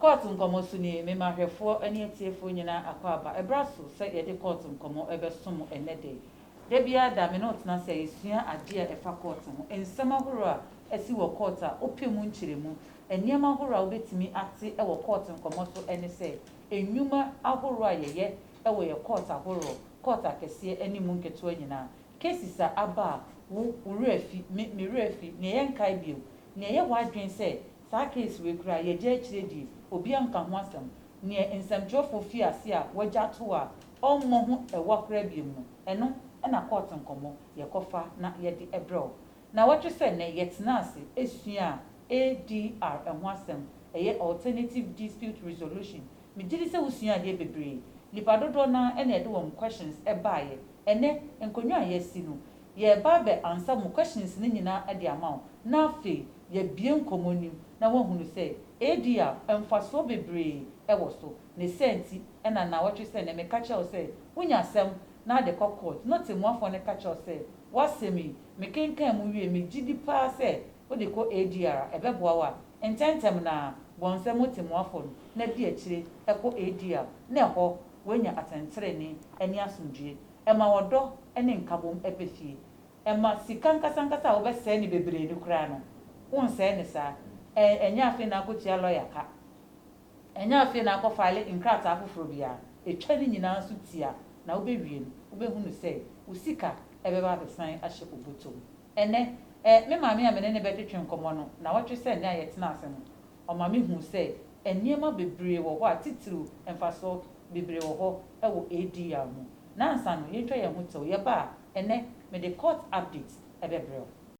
Kɔɔto Nkɔmmɔ So Ni? Mema ahwɛfoɔ ne atiefoɔ nyinaa akwaaba. Ɛberɛ aso sɛ yɛde kɔɔto nkɔmmɔ bɛso mo ɛnnɛ da yi. Da biara da, me ne wo tena ase a yɛsua adeɛ a ɛfa kɔɔto ho, nsɛm ahoroɔ a asi wɔ kɔɔto a wopɛ mu nkyerɛmu. Nneɛma ahoroɔ a wobɛtumi ate wɔ kɔɔto nkɔmmɔ so ne sɛ, nnwuma ahorow a yɛyɛ wɔ yɛn kɔɔt ahorow, kɔɔt akɛseɛ ne mu nketewa nyinaa, cases a aba a wo wo werɛ afi, me me werɛ afi, nea yɛnkae bio, nea ɛyɛ w'adwene sɛ saa case wei koraa yɛagya akyire die, obiara nka ho asɛm, nea nsɛmtwerɛfoɔ fi ase a wɔagya ato a ɔmmɔ ho ɛwa koraa biom no, ɛno na kɔɔt nkɔmmɔ yɛkɔfa na yɛde brɛ wo. Nnawɔtwe sɛ nnɛ, yɛtenaa ase suaa ADR ho asɛm, ɛyɛ Alternative Dispute Resolution. Megye di sɛ wosuaa adeɛ bebree. Nnipa dodoɔ no ara na yɛde wɔn questions baeɛ. Ɛnnɛ, nkonnwa a yɛasi no, yɛreba abɛ ansa mo questions no nyinaa de ama wo, na afei yɛabue nkɔmmɔ no mu na woahunu sɛ ADR, mfasoɔ bebree wɔ so. Ne saa nti na nnawɔtwe sɛ nnɛ meka kyerɛ wo sɛ wonya asɛm na de kɔ court, na ɔtemmuafoɔ no ka kyerɛ wo sɛ w'asɛm yi, Mekenkan mu wie, megye di paa sɛ wode kɔ ADR a, ɛbɛboa wo a, ntɛmntɛm no ara, bɔ nsɛm mu temmuafoɔ no, na di akyire kɔ ADR, na ɛhɔ, woanya atɛntenenee ne asomdwoeɛ. Ɛma ɔdɔ ne nkabom ba fie. Ɛma sika ankasankasa a wobɛsɛe no bebree no koraa no, wonsɛe no saa. Ɛ, ɛnyɛ afei na akɔtua lɔya ka. Ɛnyɛ afei na akɔfaele nkrataa foforɔ biara, ɛtwa ne nyinaa nso tia na wobɛwie no, wobɛhunu sɛ wo sika bɛba abɛsan ahyɛ obotom. Ɛnnɛ, eh, me maame a me ne no bɛtwetwe nkɔmmɔ no nnawɔtwe sɛ nnɛ a yɛtena ase no, ɔma mehuu sɛ nneɛma bebree wɔ hɔ a titiriw mfasoɔ bebree wɔ hɔ wɔ ADR mu. Nnansa no, yɛntwa yɛn ho tɛw, yɛba a, ɛnnɛ, mede court update bɛbrɛ wo.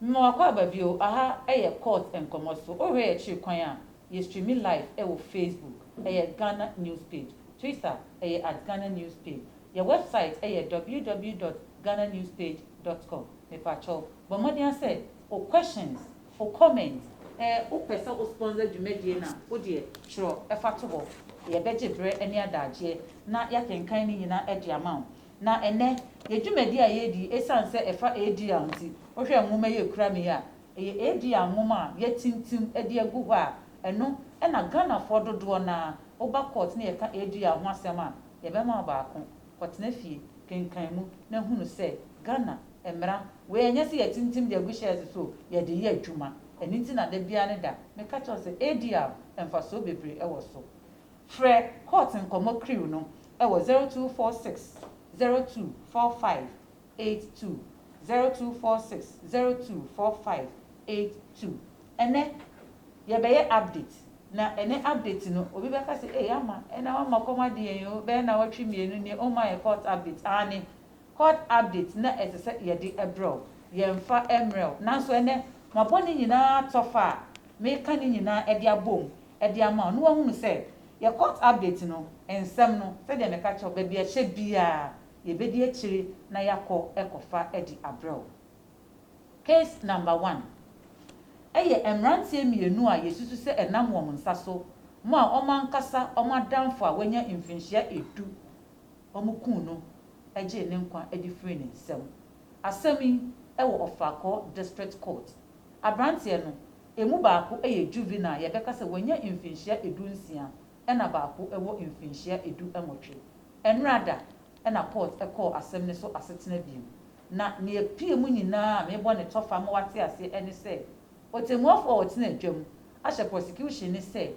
Noah Kwababio, Aha yɛ court nkɔmmɔ so. Wohwɛ yɛn akyiri kwan a, Yɛ streami live wɔ Facebook, ɛyɛ Ghana News Page, Twitter, ɛyɛ at Ghana News Page. Yɛ wɛbsaet ɛyɛ www dot ghananewspage dot com. Mepakyɛw, bɔ mmɔden ara sɛ wo questions, wo comments, ɛ, wo pɛ sɛ wo sponsor dwumadie no a, wo deɛ twerɛ fa to hɔ. Yɛ bɛgye berɛ ne adaagyeɛ na yɛakenkan ne nyinaa de ama wo. Na ɛnnɛ, yɛ dwumadie a yɛredi yi, ɛsiane sɛ ɛfa ADL nti, wo hwɛ nwoma yi a ɛkura me yi a, Ɛyɛ Edia nwoma a yɛatintim de agu hɔ a ɛno na Ghanafoɔ dodoɔ no ara, woba court na yɛka Edia ho asɛm a, yɛbɛma wo baako. Kɔtena fie, kenkan mu na hunu sɛ Ghana mmara wei ɛnyɛ sɛ yɛatintim de agu shelves so o, yɛde reyɛ adwuma. Ɛno nti na da biara ne da meka kyerɛ wo sɛ Edia mfasoɔ bebree ɛwɔ so. Frɛ Court Nkɔmmɔ Crew no ɛwɔ zero two four six zero two four five eight two zero two four six zero two four five eight two ɛnɛ yɛbɛyɛ update na ɛnɛ update no obi bɛka sɛ ei ama ɛna wama kɔm ade yɛn oo bɛyɛ nawɔtwe mmienu nie woma yɛ court update aane court update na ɛsɛ sɛ yɛde ɛbrɛ wo yɛnfa ɛmmerɛ wo nanso ɛnɛ mabɔ ne nyinaa atɔfa a meka ne nyinaa ɛde abɔ mu ɛde ama wo na wahunu sɛ yɛ court update no nsɛm no sɛdeɛ meka kyerɛ wo baabi a ɛhyɛ biara yɛbɛdi akyire na yɛakɔ ɛkɔfa adi abrɛ wo. Case number one, Ɛyɛ mmeranteɛ mmienu a yɛsusu sɛ ɛnam wɔn nsa so mo a wɔn ankasa wɔn adamfo a wanya mfinhyia ɛdu wɔn kuu no gyee ne nkwa de firii ne nsam. Asɛm yi wɔ Ɔfrakɔɔ District Court. Abranteɛ no, ɛmu baako yɛ juvenile, yɛbɛka sɛ wanya mfinhyia ɛdu nsia ɛna baako wɔ mfinhyia edu nwɔtwe. Ɛnora da ɛna Port kɔɔ asɛm no so asetena biom. Na nea epie mu nyinaa a mebɔ ne tɔfa ma wate aseɛ ɛne sɛ, Otemuafo a ɔtena adwa mu ahyɛ prosecution no sɛ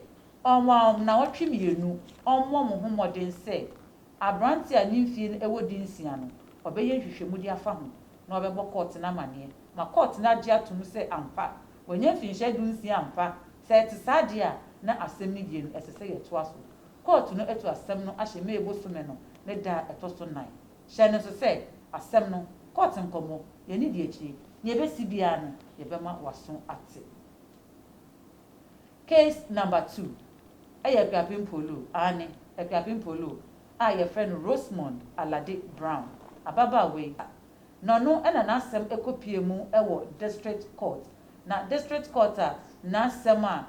ɔnwa wɔn nnawɔtwe mmienu ɔmmɔ wɔn ho mmɔden sɛ aberante a ne mfie no wɔ di nsia no ɔbɛyɛ nhwehwɛmudi afa ho na ɔbɛbɔ Court no amaneɛ ma Court no agye atom sɛ ampa Wanya mfinhyia dunsia ampa? Sɛ ɛte saa deɛ a, na asɛm no wie no, ɛsɛ sɛ yɛtoa so. Kɔɔto no atu asɛm no ahyɛ May bosome no ne da a ɛtɔ so nnan. Hyɛ no nso sɛ, asɛm no, kɔɔto nkɔmmɔ, yɛn nni akyire, nea ɛbɛsi biara no, yɛbɛma w'aso ate. Case number two, ɛyɛ Akuapem Poloo, aane, Akuapem Poloo a yɛfrɛ no Rosemond Alade Brown, ababaawa yi, Na ɔno na n'asɛm kɔpuee mu wɔ District Court, na District Court a n'asɛm a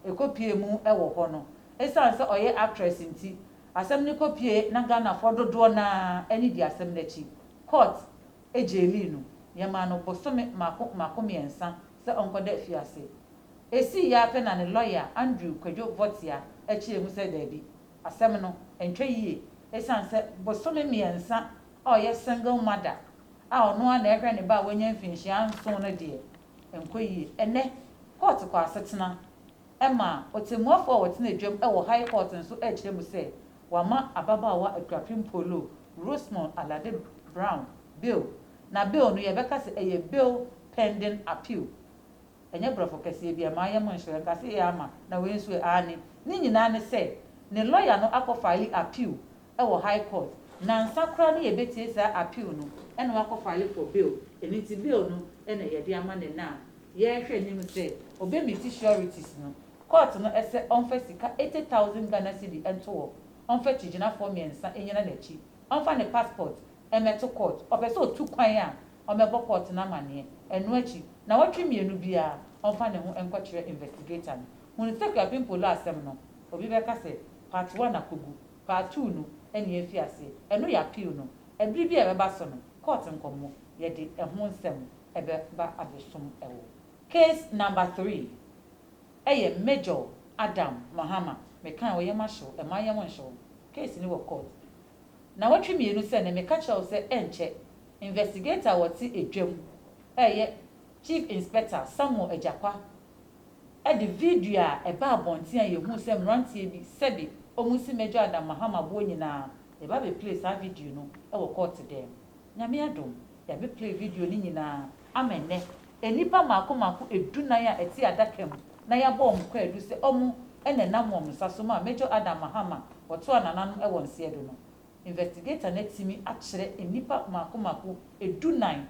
ɛkɔpuee mu wɔ hɔ no, ɛsiane sɛ ɔyɛ actress nti, asɛm no kɔpuee na Ghanafoɔ dodoɔ no ara ani dii asɛm no akyi. Court gyeelii no. Yɛmaa no bosome mmaako mmaako mmiɛnsa sɛ ɔnkɔda afiase. Ɛsiiɛ ara pɛ na ne lɔya Andrew Kwadwo Votia kyerɛɛ mu sɛ daabi, asɛm no, ɛntwa yie ɛsiane sɛ bosome mmiɛnsa a ɔyɛ single mother a ɔno ara na ɛrehwɛ ne ba a wanya mfinhyia nson no deɛ, ɛnkɔ yie. Ɛnnɛ, kɔɔto kɔ asetena ma ɔtɛmmuafoɔ a ɔtena adwam wɔ High Court nso rekyerɛ mu sɛ wɔama ababaawa Akuapem Polo Rosemond Alade Brown bail, na bail no yɛbɛka sɛ ɛyɛ bail pending appeal Ɛnyɛ brɔfo kɛseɛ bi a, mayɛ mo nhyerɛ, nka se yɛ ama, na wei nso ɛ, aane. Ne nyinaa ne sɛ, ne lɔya no akɔ faale appeal wɔ high court, nansa koraa ne yɛbɛtie saa appeal no, ɛna wakɔ faale for bail, ɛno nti bail no na yɛde ama no ɛnɛ a yɛrehwɛ anim sɛ ɔbɛmiti sureties no. Court no sɛ ɔmfa sika eighty thousand Ghana cedi nto hɔ, ɔmfa kyigyinafoɔ mmiɛnsa nnyina n'akyi, ɔmfa ne passport mmɛto court, ɔpɛ sɛ ɔtu kwan a, ɔmmɛbɔ kɔɔto no amanneɛ. Ɛno akyi, nnawɔtwe mmienu biara, ɔmfa ne ho nkɔkyerɛ investigator no. Hunu sɛ Kwabin Poloh asɛm no, obi bɛka sɛ, Part One akɔgu, Part Two no nni afi aseɛ. Ɛno yɛ appeal no. Ɛbere bi a ɛbɛba so no, kɔɔto nkɔmmɔ, yɛde ɛho nsɛm bɛba abɛsum wo. Case Number Three, Ɛyɛ Major Adam Mahama. Mekae, ɔyɛ mahyew, ɛmma yɛn ho nhye wo. Case no wɔ court. Nnawɔtwe mmienu sɛ nnɛ, meka kyerɛ wo sɛ ɛnkyɛ, investigator a ɔte edwam reyɛ Chief Inspector Samuel Agyakwa de video a ɛbaa abɔnten a yɛhuu sɛ mmeranteɛ bi sɛbe wɔresi Major Adam Mahama boɔ nyinaa, yɛba bɛplay saa video no wɔ kɔɔte dɛm. Nyame adom, yɛabeplay video no nyinaa ama nnɛ. Nnipa mmaako mmaako dunan a ɛte adaka mu na yɛabɔ wɔn kwaadu sɛ wɔn na ɛnam wɔn nsa so maa Major Adam Mahama a ɔtoaa nananom wɔ nseɛ do no. Investigator no atumi akyerɛ nnipa mmaako mmaako dunan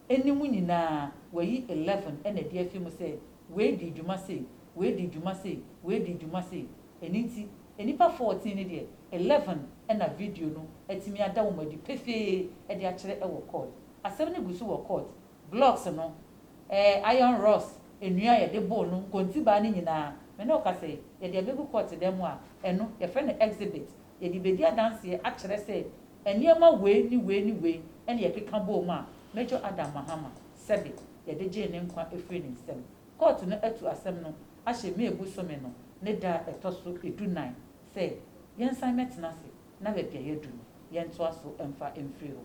ne mu nyinaa wayi eleven na adi afi mu sɛ wei dii dwuma sei, wei dii dwuma sei, wei dii dwuma sei. Ɛno nti nnipa fourteen no deɛ eleven na video no atumi ada wɔn adi pefee de akyerɛ wɔ court. Asɛm no gu so wɔ court. Glocks no, ɛɛ, iron rods, nnua a yɛde boro no, nkontibaa no nyinaa, me ne wo kasa yi, yɛde abegu court dan mu a, ɛno, yɛfrɛ no exhibit. Yɛde bedi adanseɛ akyerɛ sɛ nneɛma wei ne wei ne wei na yɛkeka bɔɔ mu a Major Adam Mahama, sɛbe, yɛde gyee ne nkwa firii ne nsam. Court no atu asɛm no ahyɛ May bosome no ne da a ɛtɔ so du nnan sɛ yɛnsan mmɛtena ase na baabi a yɛadu no, yɛntoa so mfa mfiri hɔ.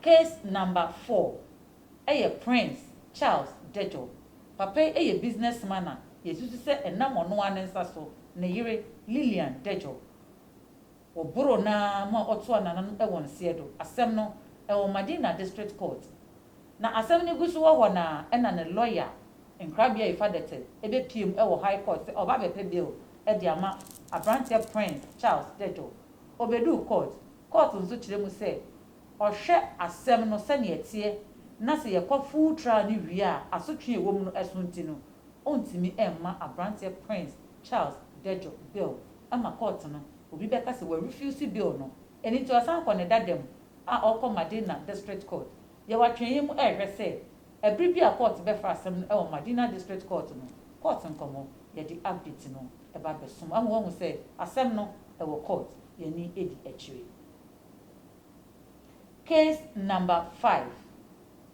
Case number four yɛ Prince Charles Dejo. Papa yi yɛ business man a yɛsusu sɛ ɛnam ɔno ara ne nsa so, ne yere Lilian Dejo, wɔboroo no ara mu a ɔtoaa nananom wɔ nseɛ do. Asɛm no wɔ Madina District Court. Na asɛm no gu so wɔ hɔ no ara ɛna ne lɔya Nkrabea Efa Dette bɛpiem wɔ High Court sɛ ɔreba abɛpɛ bail de ama aberanteɛ Prince Charles Dejo. Obeduu court. Court nso kyerɛ mu sɛ ɔhwɛ asɛm no sɛnea ɛteɛ na sɛ yɛkɔ full trial no wie a asotwe a ɛwɔ mu no ɛso nti no, ɔntumi mma abranteɛ Prince Charles Dedjo bail ɛma court no obi bɛka sɛ wa refuse bail no. Ɛno nti ɔsan kɔ ne dada mu a ɔrekɔ Madina District Court. Yɛwɔ atweneɛ mu ɛrehwɛ sɛ ɛbere bi a court bɛfa asɛm no ɛwɔ Madina District Court no court nkɔmmɔ. Yɛde update no. ba bɛsom wahu wahu sɛ asɛm no ɛwɔ court yɛn ani ɛdi akyire. Case number five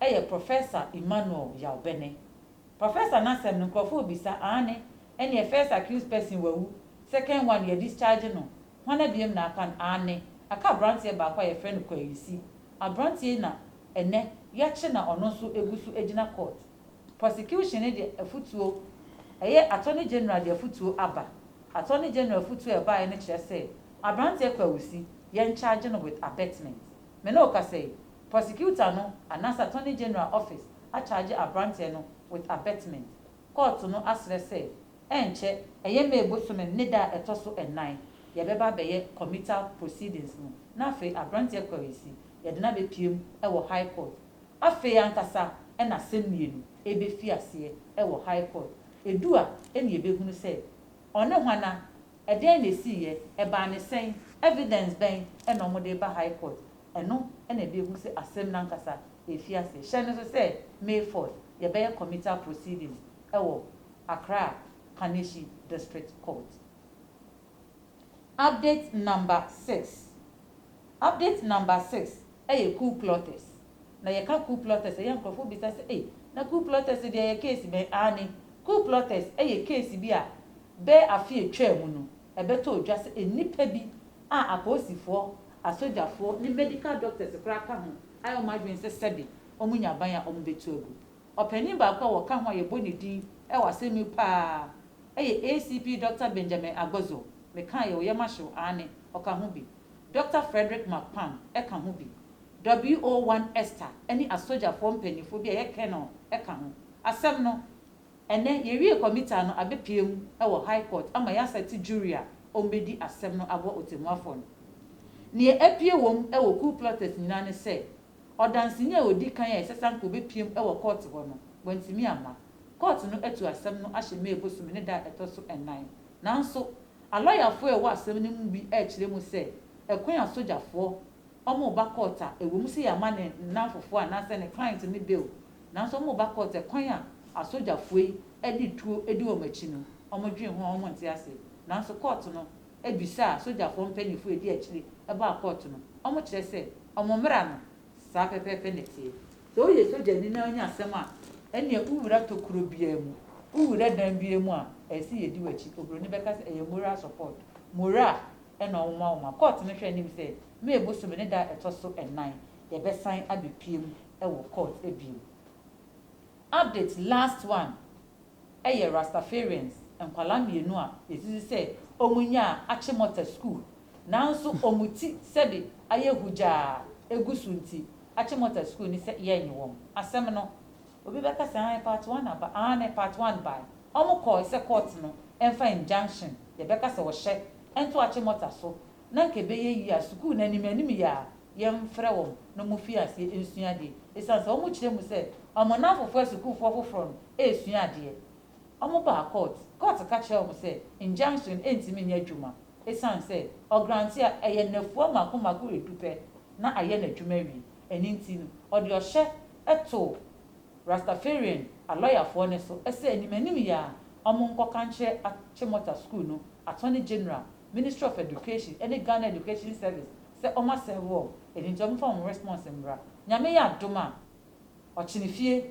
ɛyɛ Professor Emmanuel Yaw-Bene. Professor n'asɛm no nkorɔfoɔ rebisa aane ɛneɛ first accused person wawu, second one yɛ discharge no, hwana biom na aka no aane aka abranteɛ baako a yɛfrɛ no Kwayusi, abranteɛ yi na ɛnɛ yɛakye na ɔno nso ɛgu so ɛgyina court. Prosecution no de afutuo, ɛyɛ Attorney General de afutuo aba. Attorney General afutuo a ɛbaeɛ no kyerɛ sɛ aberanteɛ kɔ awusi, yɛn charge no with abetment. Me ne wo kasa yi, Prosecutor no anaasɛ Attorney General office acharge aberanteɛ no with abetment. Kɔɔto no asrɛ sɛ ɛnkyɛ, ɛyɛ May bosome ne da a ɛtɔ so nnan, yɛbɛba abɛyɛ committal proceedings no na afei aberanteɛ kɔ awusi, yɛde no abɛpiem wɔ High Court. Afei ankasa na asɛm mmienu rebefi aseɛ wɔ High Court. Edu a, ɛne yɛbɛhunu sɛ, Ɔne hwana? Ɛdeɛn na ɛsiiɛ? Ɛbaa ne sɛn? Evidence bɛn na wɔde reba High Court? Ɛno na yɛbɛhunu sɛ asɛm no ankasa refi aseɛ. Hyɛ no nso sɛ, May fourth, yɛbɛyɛ committal proceedings wɔ Accra Kaneshie District Court. Update number six Update number six yɛ Ku Klux. Na yɛka Ku Klux a, ɛyɛ a nkurɔfoɔ bisa sɛ, Ei, na Ku Klux deɛ yɛ case bɛn? Aane, Ku Klux yɛ case bi a bɛyɛ afe a ɛtwaa mu no, ɛbɛtɔɔ dwa sɛ nnipa bi a apolisifoɔ, asogyafoɔ ne medical doctors koraa ka ho ayɛ wɔn adwene sɛ sɛbe wɔnya ban a wɔbɛtu agu. Ɔpanyin baako a wɔka ho a yɛbɔ ne din wɔ asɛm mu paa yɛ ACP Dɔkta Benjamin Agbozo, mekaa yɛ, ɔyɛ Mashrow, aane, ɔka ho bi. Dɔkta Frederick Marquand ka ho bi. WO One Esther ne asogyafoɔ mpaninfoɔ bi a ɛyɛ Colonel ka ho. Asɛm no, ɛnnɛ, yɛwie kɔmitaa no, abɛpue mu wɔ High Court ama yɛasɛte jury a wɔbɛdi asɛm no aboa Ɔtɛmmuafoɔ no. Deɛ apue wɔ mu wɔ coup plotters nyinaa ne sɛ, Ɔdanseni a odi kan a ɛsɛ sɛ anka obepiam wɔ kɔɔto hɔ no, wantumi amma. Kɔɔto no atu asɛm no ahyɛ May bosome ne da a ɛtɔ so nnan. Nanso, alɔyafo a ɛwɔ asɛm no mu bi rekyerɛ mu sɛ ɛkwan a sogyafoɔ wɔn ba kɔɔto a ɛwom sɛ yɛama ne nnamfofoɔ anaasɛ ne client no bail nanso wɔn ba kɔɔto ɛkwan a asogyafoɔ yi de tuo di wɔn akyi no wɔdwen ho a wɔnte ase nanso kɔɔto no bisa a sogyafoɔ mpanyinfoɔ a edi akyire baa kɔɔto no, wɔkyerɛ sɛ wɔn mmara no, saa pɛpɛɛpɛ na ɛteɛ. Sɛ woyɛ sogyani na wonya asɛm a, ɛnneɛ wowura tokuro biara mu, wowura dan biara mu a, ɛsɛ sɛ yɛdi w'akyi. Oburoni bɛka sɛ ɛyɛ moral support, morale, na wɔma wo ma kɔɔto no hwɛ anim sɛ May bosome ne da a ɛtɔ so nnan yɛbɛsan abɛpue mu wɔ kɔɔto bio. Update last one yɛ Rastafarians nkwadaa mmienu a yɛsisi sɛ wɔn nyaa Achimota School nanso wɔn ti sɛde ayɛ hugyaa a ɛgu so nti Achimota School ne sɛ yɛnnye wɔn asɛm no. Obi bɛka sɛ aane part one aba aane part one bae wɔn kɔɔe sɛ court no mfa injunction yɛbɛka sɛ ɔhyɛ nto Achimota so na nka ɛbɛyɛ yie a sukuu no anim anim yɛ a yɛmfrɛ wɔn na wɔmfiri aseɛ nsua adeɛ ɛsiane sɛ wɔkyerɛ mu sɛ wɔn nnamfofoɔ asukuufoɔ foforɔ no resua adeɛ. Wɔbaa kɔɔt, kɔɔt ka kyerɛɛ wɔn sɛ injunction rentumi nyɛ adwuma ɛsiane sɛ ɔgrante a ɛyɛ nnafua mmaako mmaako redu pɛ na ayɛ n'adwuma awie. Ɛno nti no ɔde ɔhyɛ too Rastafarian alɔyafoɔ no so sɛ anim anim yi ara wɔnkɔka nkyerɛ Achimota Sukuu no Attorney General Ministry of Education ɛne Ghana Education Service sɛ ɔmo asɛe hall ɛno nti ɔmo fa wɔn response mmra. Nyame yɛ adom a ɔkyenefie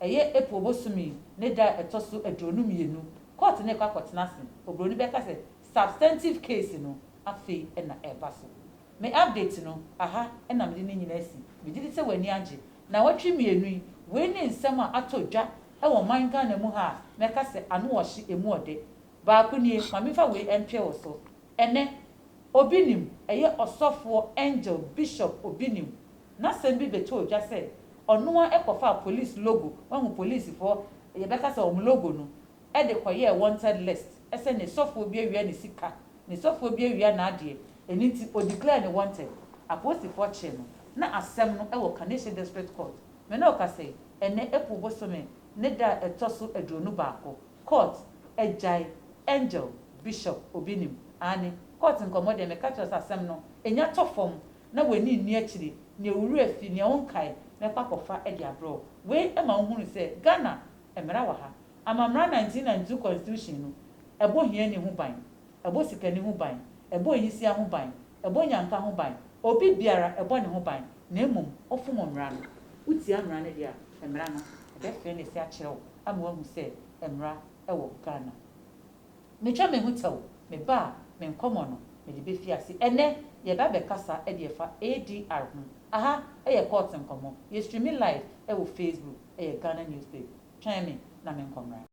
ɛyɛ April bosom yi ne da a ɛtɔ so aduonu mmienu court no rekɔ akɔtena ase obroni bɛka sɛ substantive case no afei na ɛreba so. Me update no aha na mede ne nyinaa asi. Megye di sɛ w'ani agye. Naawɔtwe mmienu yi wei ne nsɛm a atɔ dwa wɔ ɔman Ghana mu ha a mɛka sɛ ano ɔhye emu ɔdɛ. Baako nie, ma memfa wei ntoɛ wo so. Ɛnnɛ, obi nim, ɛyɛ ɔsɔfoɔ, angel, bishop, obi nim, n'asɛm bi bɛtɔɔ dwa sɛ ɔno ara kɔfaa police logo, woahu polisifoɔ, yɛbɛka sɛ wɔn logo no, de kɔyɛɛ wanted list, sɛ ne sɔfoɔ bi awia ne sika, ne sɔfoɔ bi awia n'adeɛ, ɛno nti ɔdeclare no wanted. Apolisifoɔ kyee no, na asɛm no wɔ Kaneshie District Court. Me ne wo kasa yi, ɛnnɛ April bosome ne da a ɛtɔ so aduonu baako. Court agyae Angel Bishop obi nim aane court nkɔmɔ deɛ meka kyerɛ wo sɛ asɛm no nya tɔ fam na w'ani nni akyire nea owura fi nea wo nkae mɛkɔ akɔfa de abrɛ wo wei ma wo hunu sɛ Ghana mmara wɔ ha ama mmara 1992 constitution no ɛbɔ hiani ho ban ɛbɔ sikani ho ban, ɛbɔ ayisia ho ban, ɛbɔ nyanka ho ban, obi biara ɛbɔ ne ho ban, na mmom ɔfom mmara no. Wotia mmara no deɛ a, mmara no bɛfee ne se akyerɛ wo ama woahu sɛ mmara wɔ Ghana. Metwa me ho tɛw, me ba a me nkɔmmɔ no mede bɛfi ase ɛnnɛ. Yɛreba abɛkasa deɛ ɛfa ADR ho. Aha yɛ Court Nkɔmmɔ. Yɛ streame live wɔ Facebook, ɛyɛ Ghana Newsplate. Twɛn me na menkɔ mmra.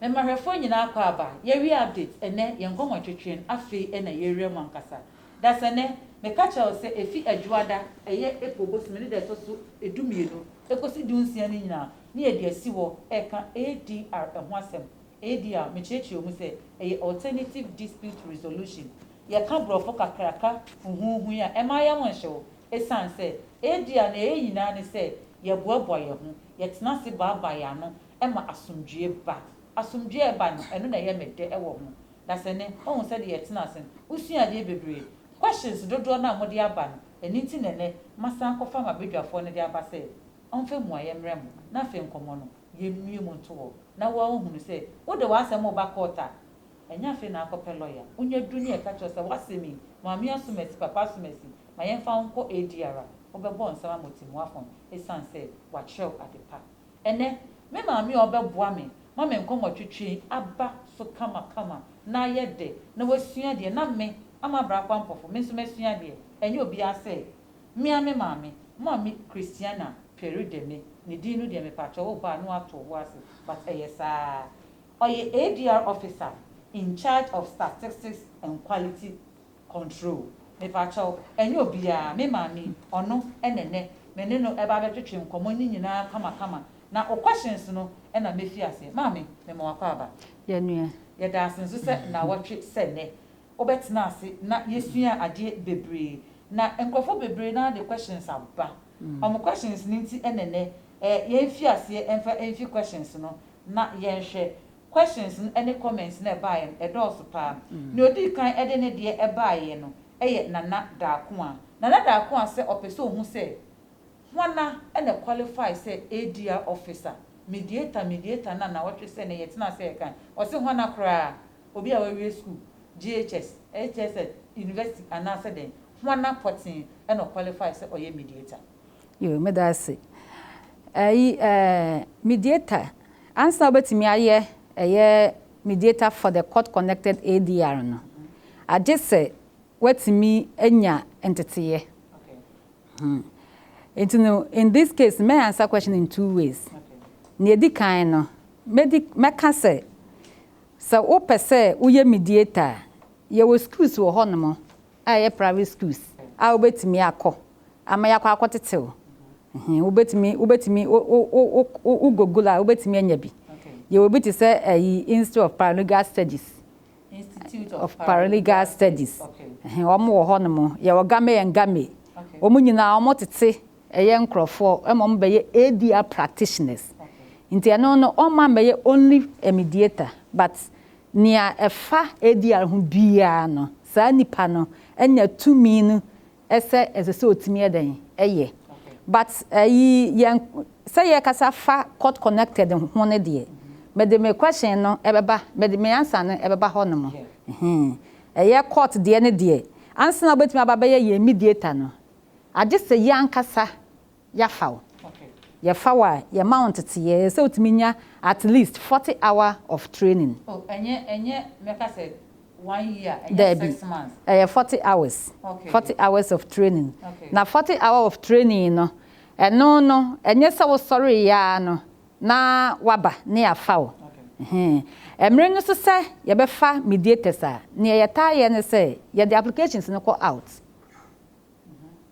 Mema hwɛfoɔ nyinaa akwaaba. Yɛawie update ɛnɛ, yɛn nkɔmmɔtwetwe no afei ɛna yɛrewura mu ankasa. Dasani, meka kyerɛ wo sɛ ɛfi Adwoada, ɛyɛ April bosome ne da ɛtɔ so du mmienu ɛkɔsi du nsia no nyinaa ne yɛde asi hɔ ɛreka ADR ɛho asɛm. ADR, mekyerɛkyerɛɛ mu sɛ ɛyɛ Alternative Dispute Resolution. Yɛka borɔfo kakraka huhuuhu yi a, ɛmma yɛn ho nhye wo. Ɛsiane sɛ ADR nea ɛyɛ nyinaa ne sɛ yɛboaboa yɛn ho, yɛtena ase baabae yɛn ano ɛma asomdwoeɛ ba. Asomdwoeɛ a ɛba no, ɛno na ɛyɛ me dɛ wɔ ho. Dasani, Woahu sɛdeɛ yɛtena ase no, wosuaa adeɛ bebree. Questions dodoɔ no a mode aba no, ɛno nti na ɛnnɛ masan akɔfa ma badwafoɔ no de aba sɛ ɔmfa mmuaeɛ mmrɛ mo, na afei nkɔmmɔ no, yɛmmue mu nto hɔ, na wo ara wohunu sɛ wode w'asɛm reba court a, ɛnyɛ afei na akɔpɛ lɔya. Wonya du ne ɛka kyerɛ wo sɛ w'asɛm yi, Maame Asumasi, Papa Asumasi, ma yɛmfa wo nkɔ ADR a, wobɛbɔ nsɛm ama ɔtɛmmuafoɔ no, ɛsiane sɛ woakyerɛw adepa. Ɛnnɛ, me maame a ɔbɛboa me ma me nkɔmmɔtwetwe yi aba so kamakama na ayɛ dɛ na wasua adeɛ na me, Ama Abrah-Kwampɔfo, me nso masua adeɛ. Ɛnyɛ obiara sɛ me ara me maame, Mame Christiana Peri Deme, ne din no deɛ mepakyɛw wo ba a na woato wo bo ase but ɛyɛ saa ara. Ɔyɛ ADR Officer in charge of Statistics and Quality Control. Mepakyɛw, ɛnyɛ obiara, me maame yi, ɔno na ɛnnɛ me ne no ɛba abɛtwetwe nkɔmmɔ no nyinaa kama kama, na wo questions no na mɛfi aseɛ. Maame, mema wo akwaaba. Yɛn nua. Yɛda ase nso sɛ nnawɔtwe sɛ nnɛ, wo bɛtena ase na yɛsuaa adeɛ bebree, na nkorɔfoɔ bebree no ara de questions aba. Wɔn questions no nti na ɛnnɛ, yɛn fi aseɛ mfa mfi questions no na yɛnhwɛ Questions no ne comments no a ɛbaeɛ no, ɛdɔɔso paa. Nea ɔdii kan de ne deɛ baeɛ no yɛ Nana Darkoa. Nana Darkoa sɛ ɔpɛ sɛ ɔhu sɛ hwana na qualify sɛ ADR officer. Mediator, mediator na nnawɔtwe sɛ nnɛ yɛtena ase reka. Ɔse hwana koraa? Obi a wawie sukuu, JHS, HSS, university anaasɛ dɛn? Hwana pɔtee na ɔqualify sɛ ɔyɛ mediator? Yoo, meda ase. Ayi ɛɛ mediator, ansa a wobɛtumi ayɛ ɛyɛ mediator for the court connected ADR no, agye sɛ woatumi anya nteteeɛ. Hmm. Nti no, in this case, mɛ answer question in two ways. Nea ɛdi kan no, mɛdi mɛka sɛ, sɛ wopɛ sɛ woyɛ mediator a, yɛwɔ skills wɔ hɔnom a ɛyɛ private schools a wobɛtumi akɔ ama yɛakɔ akɔtete wo. Ɛhe, wobɛtumi, wobɛtumi, wo, wo, wo, wo, wo, wo Google a, wobɛtumi anya bi. Yɛwɔ bi te sɛ ɛyi, Institute of Paralegal Studies. Institute of Paralegal Studies. Ɛhe, wɔn wɔ hɔ nom. Yɛwɔ Game and Game. Wɔn nyinaa, wɔn tete ɛyɛ nkorɔfoɔ ɛma wɔn bɛyɛ ADR practitioners. Nti ɛno no, wɔn mma mbɛyɛ only a mediator, but Nea ɛfa ADR ho biara no, saa nipa no anya tumi no sɛ ɛsɛ sɛ otumi yɛ dɛn? Yɛ. But ɛyi yɛn sɛ yɛkasa fa court connected ho no deɛ, mede me question no ɛbɛba, mede me answer no ɛbɛba hɔ nom. Ɛhee. Ɛyɛ court deɛ no deɛ, ansa na wobɛtumi aba abɛyɛ yɛn mediator no, agye sɛ yɛn ankasa Yɛafa wo. Yɛfa wo a, yɛma wo nteteyɛ. Ɛsɛ sɛ wotumi nya at least forty hour of training. Oh, ɛnyɛ, ɛnyɛ, mɛka sɛ one year, ɛnyɛ Daabi. six months. Ɛyɛ forty hours. Okay. Forty hours of training. Okay. Na forty hour of training no, ɛno no, ɛnyɛ sɛ wosɔreeɛ ara no na woaba na yɛafa wo. Okay. Ɛhe. Mmere no so sɛ yɛbɛfa mediators a, nea yɛtaa yɛ ne sɛ, yɛde applications no kɔ out.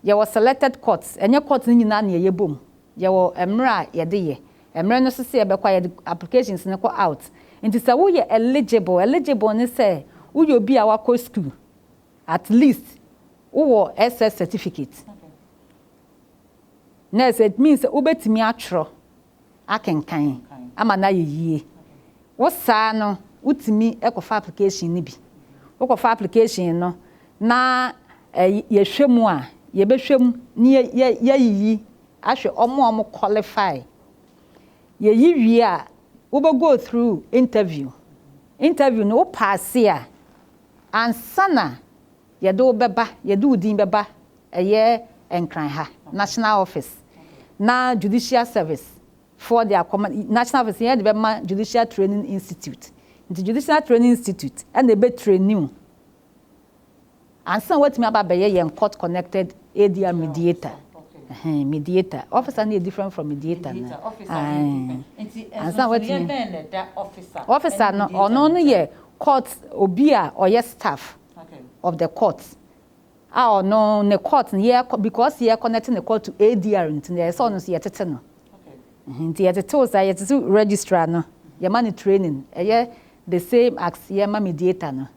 Yɛwɔ selected courts, ɛnyɛ court no nyinaa na yɛyɛ bom. Yɛwɔ mmerɛ a yɛde yɛ. Mmerɛ no nso sɛ yɛbɛkɔ a yɛde applications no kɔ out. Nti sɛ woyɛ eligible, eligible ne sɛ woyɛ obi a wakɔ sukuu, at least wowɔ SS certificate. Nurse, it means sɛ wobɛtumi atwerɛ akenkan ama no ayɛ yie. Wo saa no wotumi kɔfa application no bi. Wokɔfa application no na yɛhwɛ mu a, yɛbɛhwɛ mu na yɛayiyi ahwɛ wɔn a wɔn qualify. Yɛyi wie a, wobɛ go through interview. Interview no wo paase a, ansa na yɛde wo bɛba, yɛde wo din bɛba ɛyɛ Nkran ha National Office na Judicial Service foɔ de akɔma, National Office yɛn de bɛma Judicial Training Institute, nti Judicial Training Institute na ɛbɛ traini wo ansa woatumi aba abɛyɛ yɛn Court Connected ADR Mediator, ɛhɛn, Mediator, Officer no yɛ different from Mediator no, ae, ansa woatumi, Officer no, ɔno no yɛ Court, obi a ɔyɛ staff of the Court. A ɔno ne court no yɛkɔ because yɛ connect ne court to ADR nti no ɛyɛ sɛ ɔno nso yɛ tete no ɛhɛn nti yɛ tete wo saa yɛ tete registrar no yɛ ma no training ɛyɛ the same as yɛ ma mediator no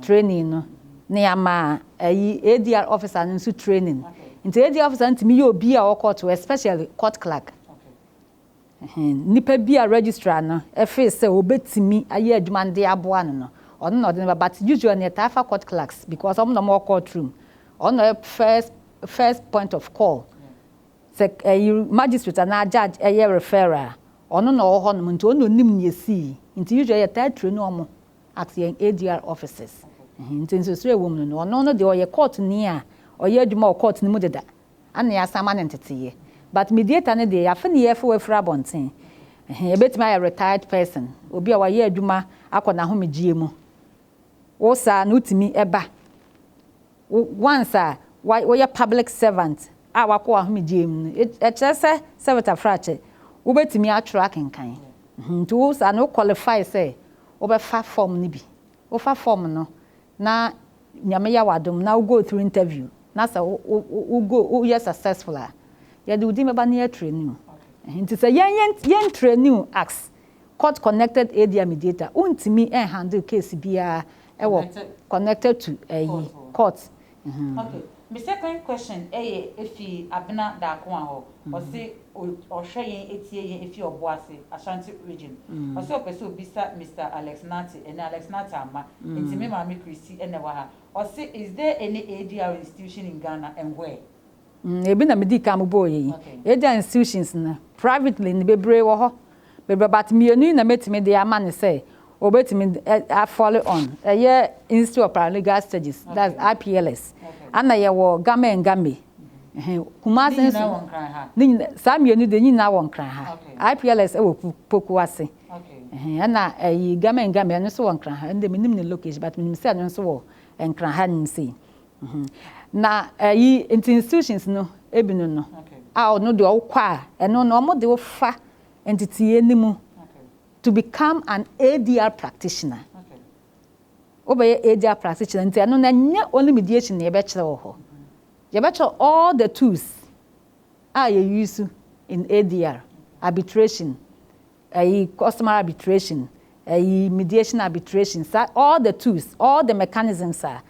training no na yɛ ama ɛyi ADR officer no nso training nti ADR officer no tumi yɛ obi a ɔwɔ court hɔ especially court clerk Nipa bi a registrar no feel sɛ obetumi ayɛ adwuma no de aboa no no, ɔno na ɔde no ba but usually no yɛtaa fa court clerks because ɔmo na ɔmo wɔ court room, ɔno na ɔyɛ first first point of call. Sɛ ɛyi magistrate anaa judge ɛyɛ referral a, ɔno na ɔwɔ hɔnom nti ɔno na onim nea esii nti usually yɛtaa traini ɔmo at yɛn ADR offices. Nti nsrɛsrɛ a ɛwɔ mu no no, ɔno no deɛ ɔyɛ court ni a ɔyɛ adwuma wɔ court no mu deda Ana yɛasan ama no nteteyɛ. But mediator no deɛ yɛafe no yɛɛfe wafiri abɔnten. Ɛhe, ɛbɛtumi ayɛ retired person, obi a wayɛ adwuma akɔ n'ahomegyeɛ mu. Wo saa no wotumi ba, once a woyɛ public servant a wakɔ w'ahomegyeɛ mu no, ɛkyerɛ sɛ servitor frakyɛ, wobɛtumi atwerɛ akenkan. Nti wo saa no wo qualify sɛ wobɛfa form no bi. Wofa form no na Nyame yɛ wo adom na wo go through interview na sɛ wo go wo yɛ successful a yɛde wo din bɛba na yɛ train wo nti sɛ yɛn yɛ ntrain wo as court connected ADR mediator wo ntumi handle case biara ɛwɔ connected to ɛyi court. Me second question yɛ efi Abena Darkoa hɔ. Ɔse ɔhwɛ yɛn etie yɛn efi Ɔbo ase, Ashanti region. Ɔse ɔpɛ sɛ obisa Mister Alex Nartey ɛnɛ Alex Nartey amma nti me maame Christy na ɛwɔ ha. Ɔse is there any ADR institution in Ghana and where? Ebi na me dii kan mo bɔɔ yɛ yi. ADR institutions no privately no bebree wɔ hɔ. Meba but mmienu yi na mɛtumi de ama no sɛ ɔbɛtumi a follow on ɛyɛ Institute of Paralegal Studies that's IPLS ɛna yɛwɔ Gama and Game ɛhɛn Kumasi nso ne nyinaa wɔ Nkran ha ne nyinaa saa mmienu deɛ ne nyinaa wɔ Nkran ha okay IPLS ɛwɔ Poku ase okay ɛhɛn ɛna ɛyi Gama and Game ɛno nso wɔ Nkran ha ɛno deɛ menim ne location but menim sɛ ɛno nso wɔ Nkran ha nom sei Na ayi nti institutions no ebi no no a ɔno deɛ ɔwokɔ a ɛno no ɔmo de wo fa nteteɛ no mu to become an ADR practitioner wo bɛ yɛ ADR practitioner nti ɛno no ɛnyɛ only mediation na yɛbɛ kyerɛ wɔ hɔ yɛbɛ kyerɛ all the tools a yɛ use in ADR arbitration ɛyi customer arbitration, ɛyi mediation arbitration, sa all the tools, all the mechanisms a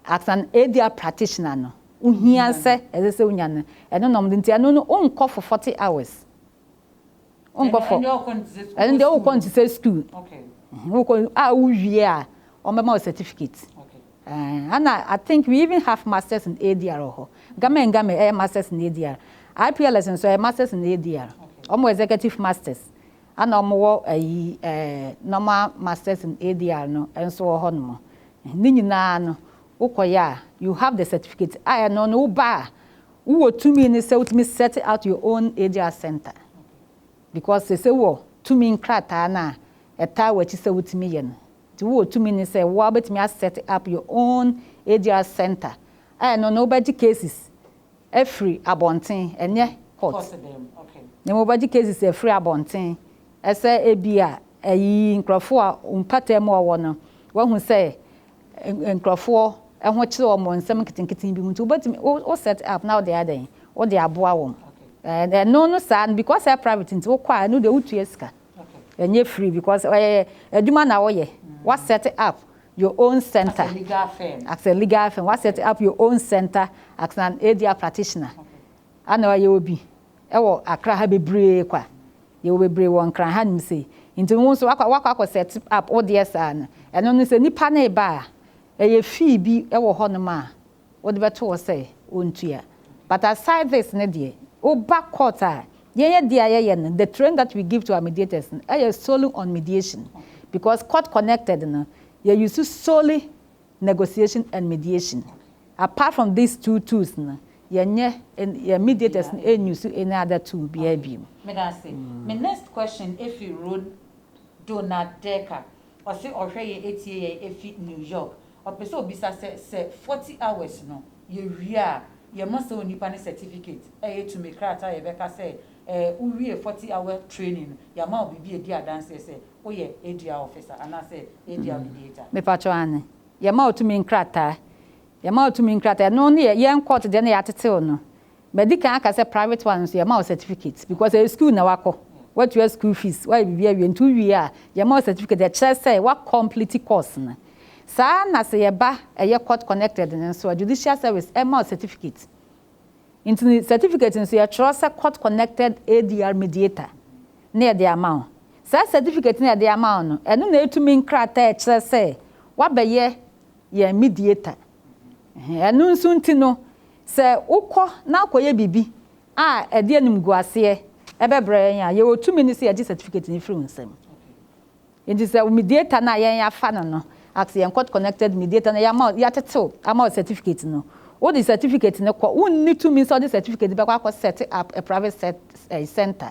as an ADR practitioner no wohia sɛ ɛsɛ sɛ wonya no, ɛno na wɔde, nti ɛno no wonkɔ for forty hours. Wonkɔ for, ɛno deɛ wokɔ no te sɛ school, wokɔ a wowie a wɔbɛma wo certificate, Eh ana I think we even have masters in ADR wɔ hɔ. Game and Game ɛyɛ masters in ADR. IPLS nso ɛyɛ masters in ADR. Wɔn wɔ executive masters ana wɔn wɔ ayi eh normal masters in ADR no nso wɔ hɔ nom. Ne nyinaa no wo kɔ yɛ a you have the certificate a ɛno no wo ba a wo wɔ tumi no sɛ wotumi set out your own ADR center because sese wɔ tumi nkrataa no a ɛtaa w'akyi sɛ wotumi yɛ no. Nti wowɔ tumi ne sɛ woa wobɛtumi a set up your own ADR center a ɛno no wobɛgye cases afiri abɔnten ɛnyɛ court na mmom wobɛgye cases afiri abɔnten ɛsɛ ɛbi a ɛyi nkorɔfoɔ a mpataa mu a wɔwɔ no wahu sɛ nkorɔfoɔ ɛho kyere wɔn wɔ nsɛm nketenkete bi mu nti wobɛtumi wo set up na wode adɛn wode aboa wɔn ɛno no saa no because ɛyɛ private nti wokɔ a ɛno deɛ wotua sika. Ɛnyɛ free because ɔyɛ adwuma na woyɛ. Wa set up your own center as a legal firm. Wa set up your own center as an ADR practitioner. Ana ɔyɛ wɔ bi ɛwɔ Accra ha bebree kwa. Yɛwɔ bebree wɔ Nkran ha nom sei. Nti wo nso wakɔ wakɔ akɔ set up wo deɛ saa no. Ɛno no sɛ nipa no reba a ɛyɛ fee bi ɛwɔ hɔ nom a Wode bɛto hɔ sɛ ɔntua. But aside this no deɛ, woba court a, yɛn adeɛ a yɛyɛ no, the training that we give to our mediators no, ɛyɛ solely on mediation. Because court connected no, yɛ use solely negotiation and mediation. Apart from these two tools no, yɛnyɛ, yɛn mediators no ɛn use any other tool biara bio. Meda ase. Me next question firi Rod Donald Decker. Ɔse ɔhwɛ yɛn ɛtie yɛn ɛfiri New York. Ɔpɛ sɛ ɔbisa sɛ, sɛ forty hours no yɛwie a, yɛma saa onipa no certificate, ɛyɛ tumi krataa a yɛbɛka sɛ eh, wowiee forty hour training no, yɛama wo biribi a ɛdi adanseɛ sɛ woyɛ ADR officer anaasɛ ADR mediator. Me pa kyɛw, Aane. Yɛma wo tumi nkrataa. Yɛma wo tumi nkrataa. Ɛno ne yɛ, yɛn court deɛ na yɛatete wo no. Madi kan aka sɛ private one nso yɛma wo certificate because ɛyɛ school na wakɔ, watua school fees, wayɛ biribi awie nti wowie a yɛma wo certificate ɛkyerɛ sɛ wa complete course no. Saa ara na sɛ yɛba ɛyɛ court connected no nso a judicial service ɛma wo certificate. Nti no certificate nso yɛtwerɛ sɛ court connected ADR mediator na yɛde ama wo. Saa certificate no a yɛde ama wo no ɛno na ɛtumi nkrataa a ɛkyerɛ sɛ wabɛyɛ yɛn mediator. Ɛno nso nti no, sɛ wokɔ na wokɔyɛ biribi a ɛde animguaseɛ bɛbrɛ yɛn a, yɛwɔ tumi no sɛ yɛgye certificate no firi wo nsam. Nti sɛ wo mediator no a yɛn yɛafa no no, as yɛn court connected mediator na yɛama wo, yɛatete wo ama wo certificate no, wode certificate no kɔ. Wonni tumi sɛ wode certificate no bɛkɔ akɔ set up a private set ɛyi centre.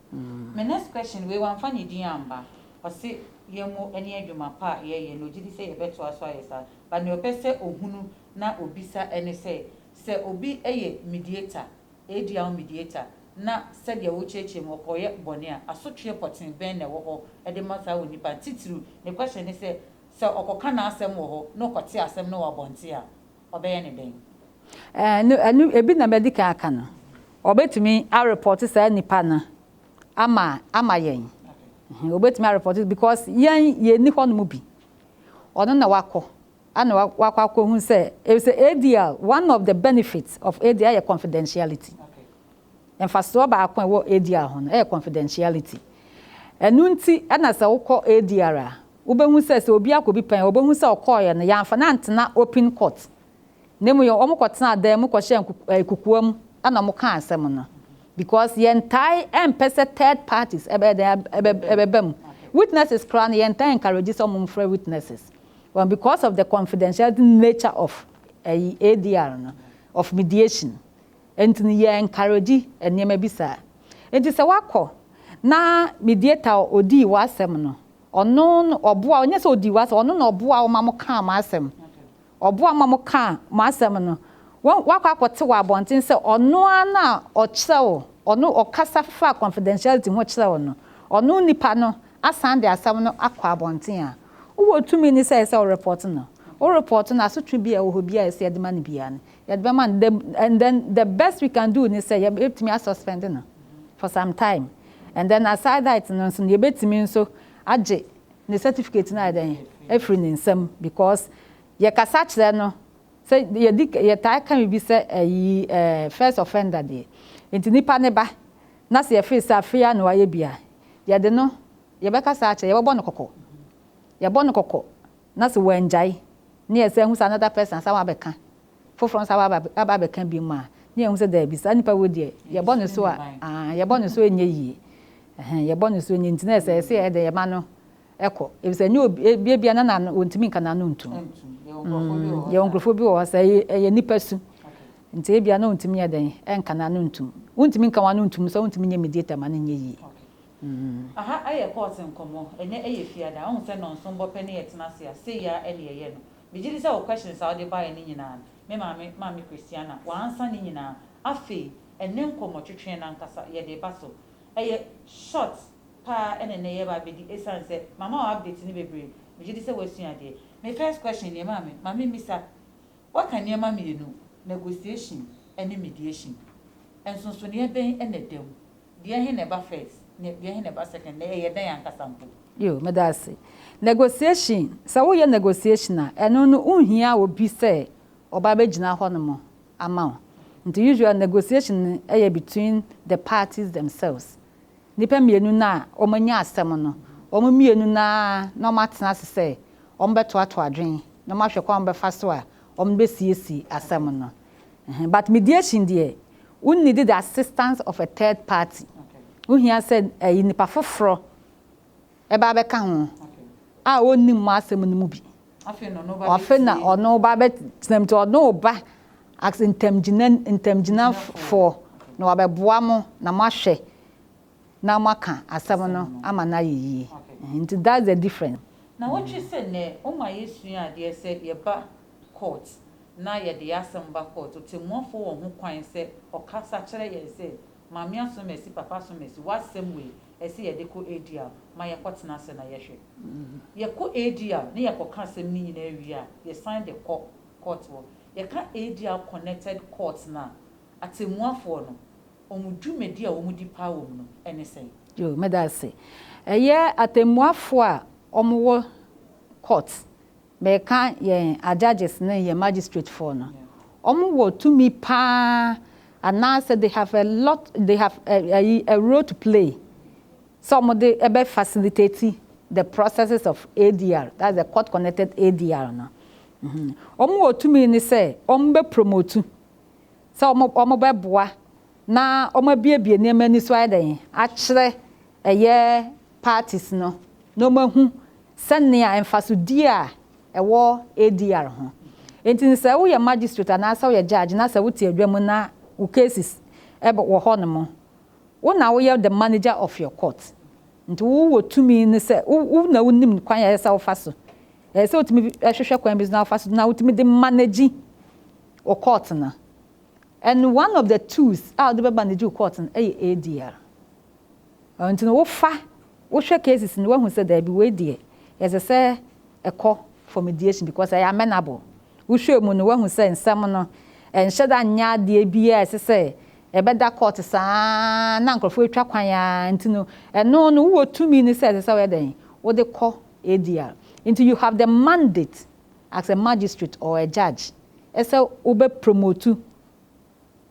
Me next question wei wamfa ne din amma ɔse yɛn mo ɛne adwuma pa a yɛyɛ na ɔgyedi sɛ yɛbɛtoa so ayɛ saa but nea ɔpɛ sɛ ɔhunu na ɔbisa ɛne sɛ sɛ obi yɛ mediator ADR mediator na sɛdeɛ wokyerɛkyerɛ mu ɔkɔyɛ bɔne a asotweɛ pɔtee bɛn na ɛwɔ hɔ de ma saa onipa no titiriw ne question ne sɛ sɛ ɔkɔka n'asɛm wɔ hɔ na ɔkɔte asɛm no wɔ abɔnten a ɔbɛyɛ no dɛn? Ɛɛ, ɛno ebi na madi kan aka no. Wɔbɛtumi arepɔte saa nnipa no ama ama yɛn. Wɔbɛtumi arepɔte because yɛn yɛnni hɔnom bi. Ɔno na wakɔ ɛna wakɔ akɔhu sɛ, sɛ ADL, one of the benefits of ADL yɛ confidentiality. Mfasoɔ baako a ɛwɔ ADR ho no yɛ confidentiality. Ɛno nti na sɛ wokɔ ADR a, wobɛhu sɛ sɛ obi akɔ bi pɛn a, wɔbɛhu sɛ ɔkɔeɛ no, yɛamfa no antena open court, na mmom yɛ wɔkɔtenaa dan mu kɔhyɛɛ nkuku ɛɛ kukuo mu na wɔkaa asɛm no. Because yɛntae mpɛ sɛ third parties ɛbɛyɛ dɛn, ɛbɛ ɛbɛba mu. Witnesses koraa no, yɛntaa encourage sɛ wɔmfrɛ witnesses. Wɔn, because of the confidentiality nature of ɛyi ADR no, of mediation. Enti no yɛ encourage nneɛma bi saa. Enti sɛ wakɔ na mediator a odii w'asɛm no, ɔno na ɔboa wo, nyɛ sɛ odii w'asɛm, ɔno na ɔboa wo ma mokaa mo asɛm, ɔboa wo ma mokaa mo asɛm no, wahu, wakɔ akɔte wɔ abɔnten sɛ ɔno ara na ɔkyerɛ wo, ɔno, ɔkasa fa confidentiality ho kyerɛ wo no, ɔno nipa no asan de asɛm no akɔ abɔnten a, wowɔ tumi ne sɛ ɛsɛ sɛ wo report no. Wo report no, asotwe biara a ɛwɔ hɔ biara a ɛsɛ sɛ yɛde ma no biara no, Yɛde bɛma no dɛm and then the best we can do ne sɛ yɛbɛtumi a suspend no for some time and then aside that no nso no yɛbɛtumi nso agye ne certificate no ayɛ dɛn afiri ne nsam because yɛkasa kyerɛ no sɛ yɛdi yɛtaa ka biribi sɛ ayi ɛɛ first offender deɛ nti nipa ne ba na sɛ yɛfiri sɛ afei a na wayɛ bi a yɛde no yɛbɛkasa akyerɛ yɛbɛbɔ no kɔkɔ yɛbɔ no kɔkɔ Na sɛ wɔangyae, na yɛsan ahu sɛ another person asan aba abɛka, foforɔ nso aba aba abɛka biom a, na yɛahu sɛ daabi, saa nipa wei deɛ, yɛbɔ ne so a, aah, yɛbɔ ne so nyɛ yie. Ɛhɛn, yɛbɔ ne so nyɛ nti na ɛsɛ sɛ yɛyɛ dɛn? Yɛma no kɔ. Efisɛ ɛnyɛ obi, ebia bia na n'ano, ɔntumi nka n'ano ntom. Mm, yɛwɔ nkurɔfoɔ bi wɔ hɔ, sɛ ɛyɛ, ɛyɛ nipa su nti ebia na ɔntumi nyɛ dɛn? Ɛnka n'ano ntom. Wontumi nka w'ano ntom nso a, wontumi nyɛ mediator ma no nyɛ yie. Aha ayɛ court nkɔmmɔ, ɛnɛ ɛyɛ fiada, wohu sɛ nnɔnson bɔ pɛ ne yɛtena ase a, sei ara ɛne ɛyɛ no. Megye di sɛ wo questions a wode baeɛ no nyinaa no, me maame, Maame Christiana, woansa ne nyinaa. Afei, ɛnnɛ nkɔmmɔ twetwee no ankasa, yɛde reba so. Ɛyɛ short pa ara na ɛnnɛ yɛreba abɛdi ɛsiane sɛ mama wo update no bebree, megye di sɛ woasua adeɛ. Me first question nie maame, ma me mmisa, woaka nneɛma mmienu, negotiation ne mediation, nsonsonoeɛ bɛn na ɛda mu? Dua he na ɛba first na dua he na ɛba second na ɛyɛ dɛn ankasa mpo? Yo, meda ase. Negotiation, sɛ woyɛ negotiation a, ɛno no wonhia obi sɛ ɔba bɛgyina hɔnom ama wo. Nti usually negotiation no yɛ between the parties themselves. Nnipa mmienu no a wɔanya asɛm no, wɔn mmienu no ara na wɔatena ase sɛ wɔbɛtoatoa adwene na wɔahwɛ kwan a wɔbɛfa so a wɔbɛsiesie asɛm no. Ɛhɛn, but mediation deɛ, wo need the assistance of a third party. Wo hia sɛ ɛyi nipa foforɔ ɛba abɛka ho a ɔnnim mo asɛm no mu bi. Ɔfe na ɔno ba bɛ tena mu nti ɔno ba as ntɛmgyina ntɛmgyinafoɔ na wabɛboa mo na mo ahwɛ na mo aka asɛm no ama no ayɛ yie. Nti that's the difference. Na wotwe sɛ nnɛ woma yɛ sua adeɛ sɛ yɛba kɔɔt na yɛde yɛn asɛm ba kɔɔt, ɔtɛmmuafoɔ wɔ ho kwan sɛ ɔkasa kyerɛ yɛn sɛ, Maame Asomasi, Papa Asomasi, w'asɛm wei, ɛsɛ yɛde kɔ ADR, ma yɛkɔtena ase na yɛhwɛ. Yɛkɔ ADR na yɛkɔka asɛm no nyinaa wie a, yɛsan de kɔ kɔɔt hɔ. Yɛka ADR connected court no a, atɛmmuafoɔ no, wɔn dwumadi a wɔdi paa wɔ mu no, ɛne sɛn? Yoo, meda ase. Ɛyɛ atɛmmuafoɔ a wɔwɔ kɔɔt Meka yɛn ajudges ne yɛn magistrate foɔ no, wɔn wɔ tumi paa anaasɛ they have a lot they have a ayi a role to play sɛ wɔn de ɛbɛ facilitate the processes of ADR that's the court connected ADR no. Wɔn wɔ tumi ne sɛ wɔn bɛ promote sɛ wɔn wɔn bɛ boa na wɔabuebue nneɛma ani so ayɛ dɛn akyerɛ ɛyɛ parties no na wɔahu sɛnea mfasodi a ɛwɔ ADR ho. Enti no sɛ woyɛ magistrate anaasɛ woyɛ judge na sɛ wote adwa mu na wo cases ɛb wɔ hɔ no mo, wo na woyɛ the manager of your court. Nti wo wɔ tumi no sɛ wo wo na wonim kwan a ɛyɛ sɛ wofa so. Ɛyɛ sɛ wotumi hwehwɛ kwan bi so na wofa so na wotumi de manage wo court no. And one of the tools a ɔde bɛba ne gye wo court no yɛ ADR. Ɛno nti no wofa, wohwɛ cases no woahu sɛ daabi wei deɛ ɛsɛ sɛ ɛkɔ for mediation because ɛyɛ amenable. Wohwɛɛ mu no woahu sɛ nsɛm no ɛnhyɛ da nyɛ adeɛ bi a ɛsɛ sɛ ɛbɛda court saa na nkorɔfoɔ atwa kwan ara nti no ɛno no wowɔ tumi no sɛ ɛsɛ sɛ woyɛ dɛn? Wode kɔ ADR. Nti you have the mandate as a magistrate or a judge ɛsɛ wo bɛ promotu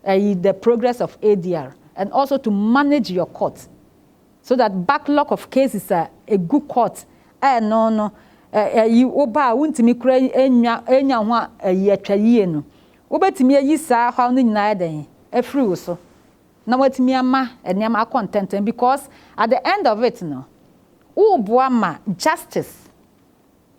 ɛyi the progress of ADR and also to manage your court so that backlog of cases a ɛgu court a ɛno no ɛyi wo ba a wo ntumi kura ɛnya ɛnya ho a ɛyi atwa yie no wo bɛ tumi ayi saa haw no nyinaa ɛdɛn afiri wo so na wo atumi ama ɛnneɛma akɔ ntɛntɛm because at the end of it no wo boa ma justice.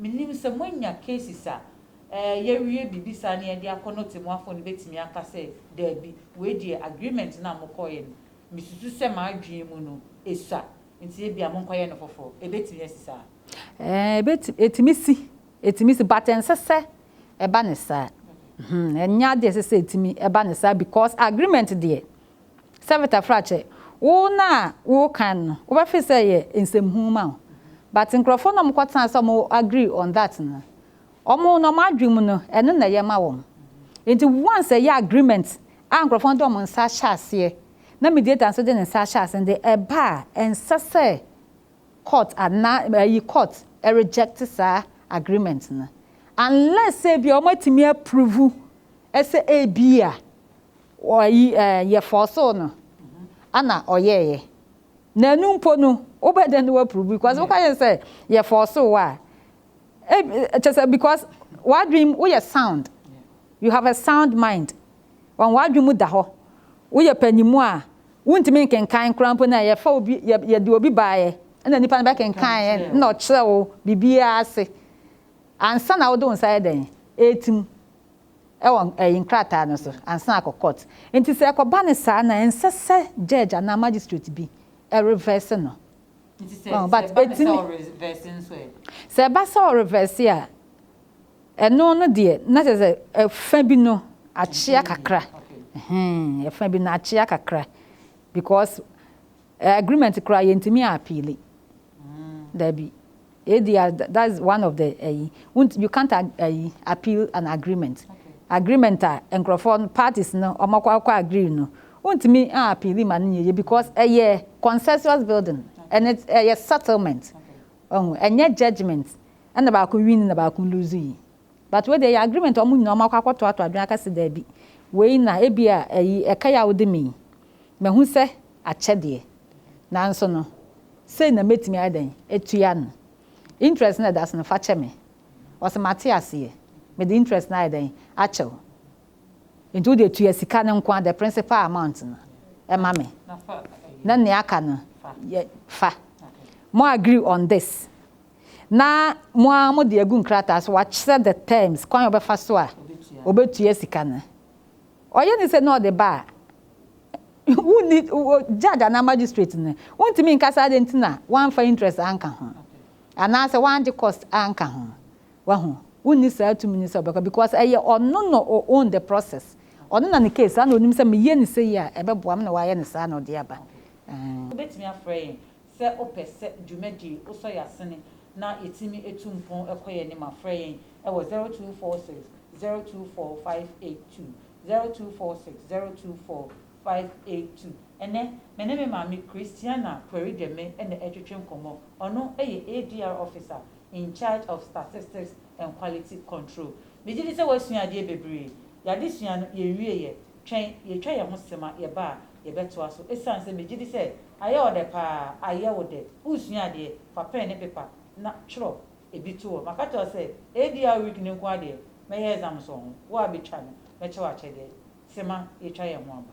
Minnim sɛ moanya cases a ɛɛ yɛawie biribi saa na yɛde akɔ no Otemmuafoɔ no bɛtumi aka sɛ daabi, wei deɛ agreement no a mokɔeɛ no, mesusu sɛ m'adwene mu no ɛsua nti ebia monkɔyɛ no foforɔ. Ɛbɛtumi asi saa? Ɛɛ ɛbɛtumi, ɛtumi si, ɛtumi si but ɛnsɛ sɛ ɛba no saa. Ɛnyɛ adeɛ a ɛsɛ sɛ ɛtumi ɛba no saa because agreement deɛ Savita Frache, wo no a wo kan no wo bɛ feel sɛ ɛyɛ nsɛm hunu ma wo but nkurɔfoɔ no a wɔn kɔ tena ase a wɔn agree on that no wɔn no wɔn adwene mu no ɛno na ɛyɛ ma wɔn nti once ɛyɛ agreement a nkurɔfoɔ no de wɔn nsa ahyɛ aseɛ na mediator nso de ne nsa ahyɛ aseɛ no de ɛba a ɛnsɛ sɛ court anaa ɛyi court ɛreject saa agreement no unless sɛ ebi a wɔn atumi approve ɛsɛ ebi a. Ɔyi eh yɛ fɔɔsoo no ɛna ɔyɛɛyɛ na ɛno mpo no wobɛdɛn na woaprovu because wo ka yɛn sɛ yɛ fɔɔsoo wo a eh kyerɛ sɛ because w'adwene mu woyɛ sound you have a sound mind wɔn w'adwene mu da hɔ woyɛ panyinmu a wontumi nkenkan koraa mpo na yɛfa obi yɛ yɛde obi baeɛ ɛna nipa no bɛkenkaneɛ ɛna ɔkyerɛ wo biribiara ase ansa na wode wo nsa yɛ dɛn ɛretim wɔ ɛyi nkrataa no so ansa na akɔ court nti sɛ ɛkɔba no saa na ɛnsɛ sɛ judge anaa magistrate bi reverse no nti sɛ ɛba no sɛ ɔreverse nso ɛ? Sɛ ɛba sɛ ɔreverse a ɛno no deɛ na kyerɛ sɛ ɛfa bi no akyea kakra ɛhɛn ɛfa bi no akyea kakra because agreement koraa yɛntumi appeal daabi. Yɛ di a that is one of the ayi wunt you can't ayi appeal an agreement agreement a nkorɔfoɔ no parties no wɔn akɔ akɔ agree no wuntumi an appeal ma no nyɛ yie because ɛyɛ consensus building and it ɛyɛ settlement ɔho ɛnyɛ judgement ɛna baako win na baako lose yi But wei deɛ ɛyɛ agreement a wɔn nyinaa wɔakɔ akɔtoatoa adwene aka sɛ daabi, wei na ebia ayi ɛka yi a wode me yi, mahu sɛ akyɛdeɛ. Nanso no, sei na mɛtumi ayɛ dɛn atua no. Interest no a ɛda so no, fa kyɛ me. Ɔse, Mate aseɛ, mede interest no ayɛ dɛn akyɛ wo. Enti wo deɛ tua sika no nko ara, the principal amount no ma me, na nea aka no yɛ fa. Mo agree on this. na mo ara mode agu nkrataa so, wakyerɛ the terms, kwan a ɔbɛfa so a ɔbɛtua sika no. Ɔyɛ ne sɛ na ɔde ba a, wonni judge anaa magistrate no, wontumi nka sɛ adɛn nti na woamfa interest anka ho, anaasɛ woangye cost anka ho. Wahu? Wonni saa tumi no sɛ wobɛkɔ because ɛyɛ ɔno na ɔ own the process. Ɔno na ne case, saa na ɔnim sɛ meyɛ no sei a ɛbɛboa me na wayɛ no saa na ɔde aba. Wobɛtumi afrɛ yɛn Sɛ opɛ sɛ dwumadie osɔ yɛ asene na yɛtumi atu mpon kɔ yɛ anim a, frɛ yɛn wɔ 0246 024 582, 0246 024 582. Ɛnnɛ, me ne me maame Christiana Puerideme na ɛretwetwe nkɔmmɔ. Ɔno yɛ ADR Officer in charge of Statistics and Quality Control. Megye di sɛ woasua adeɛ bebree. Yɛn adesua no, yɛnwieeɛ. Twɛn, yɛretwa yɛn ho sima, yɛba a, Yɛbɛtoa so. Esiane sɛ megye di sɛ ayɛ wo dɛ paa, ayɛ wo dɛ. Woresua adeɛ? Fa pɛn ne pepa na twerɛ ebi to hɔ. Maka akyerɛ wo sɛ ADR week no nko ara deɛ, mɛyɛ exams wɔ ho. Wo a bɛtwa no, mɛkyɛ wo akyɛdeɛ. Sema, yɛatwa yɛn ho aba.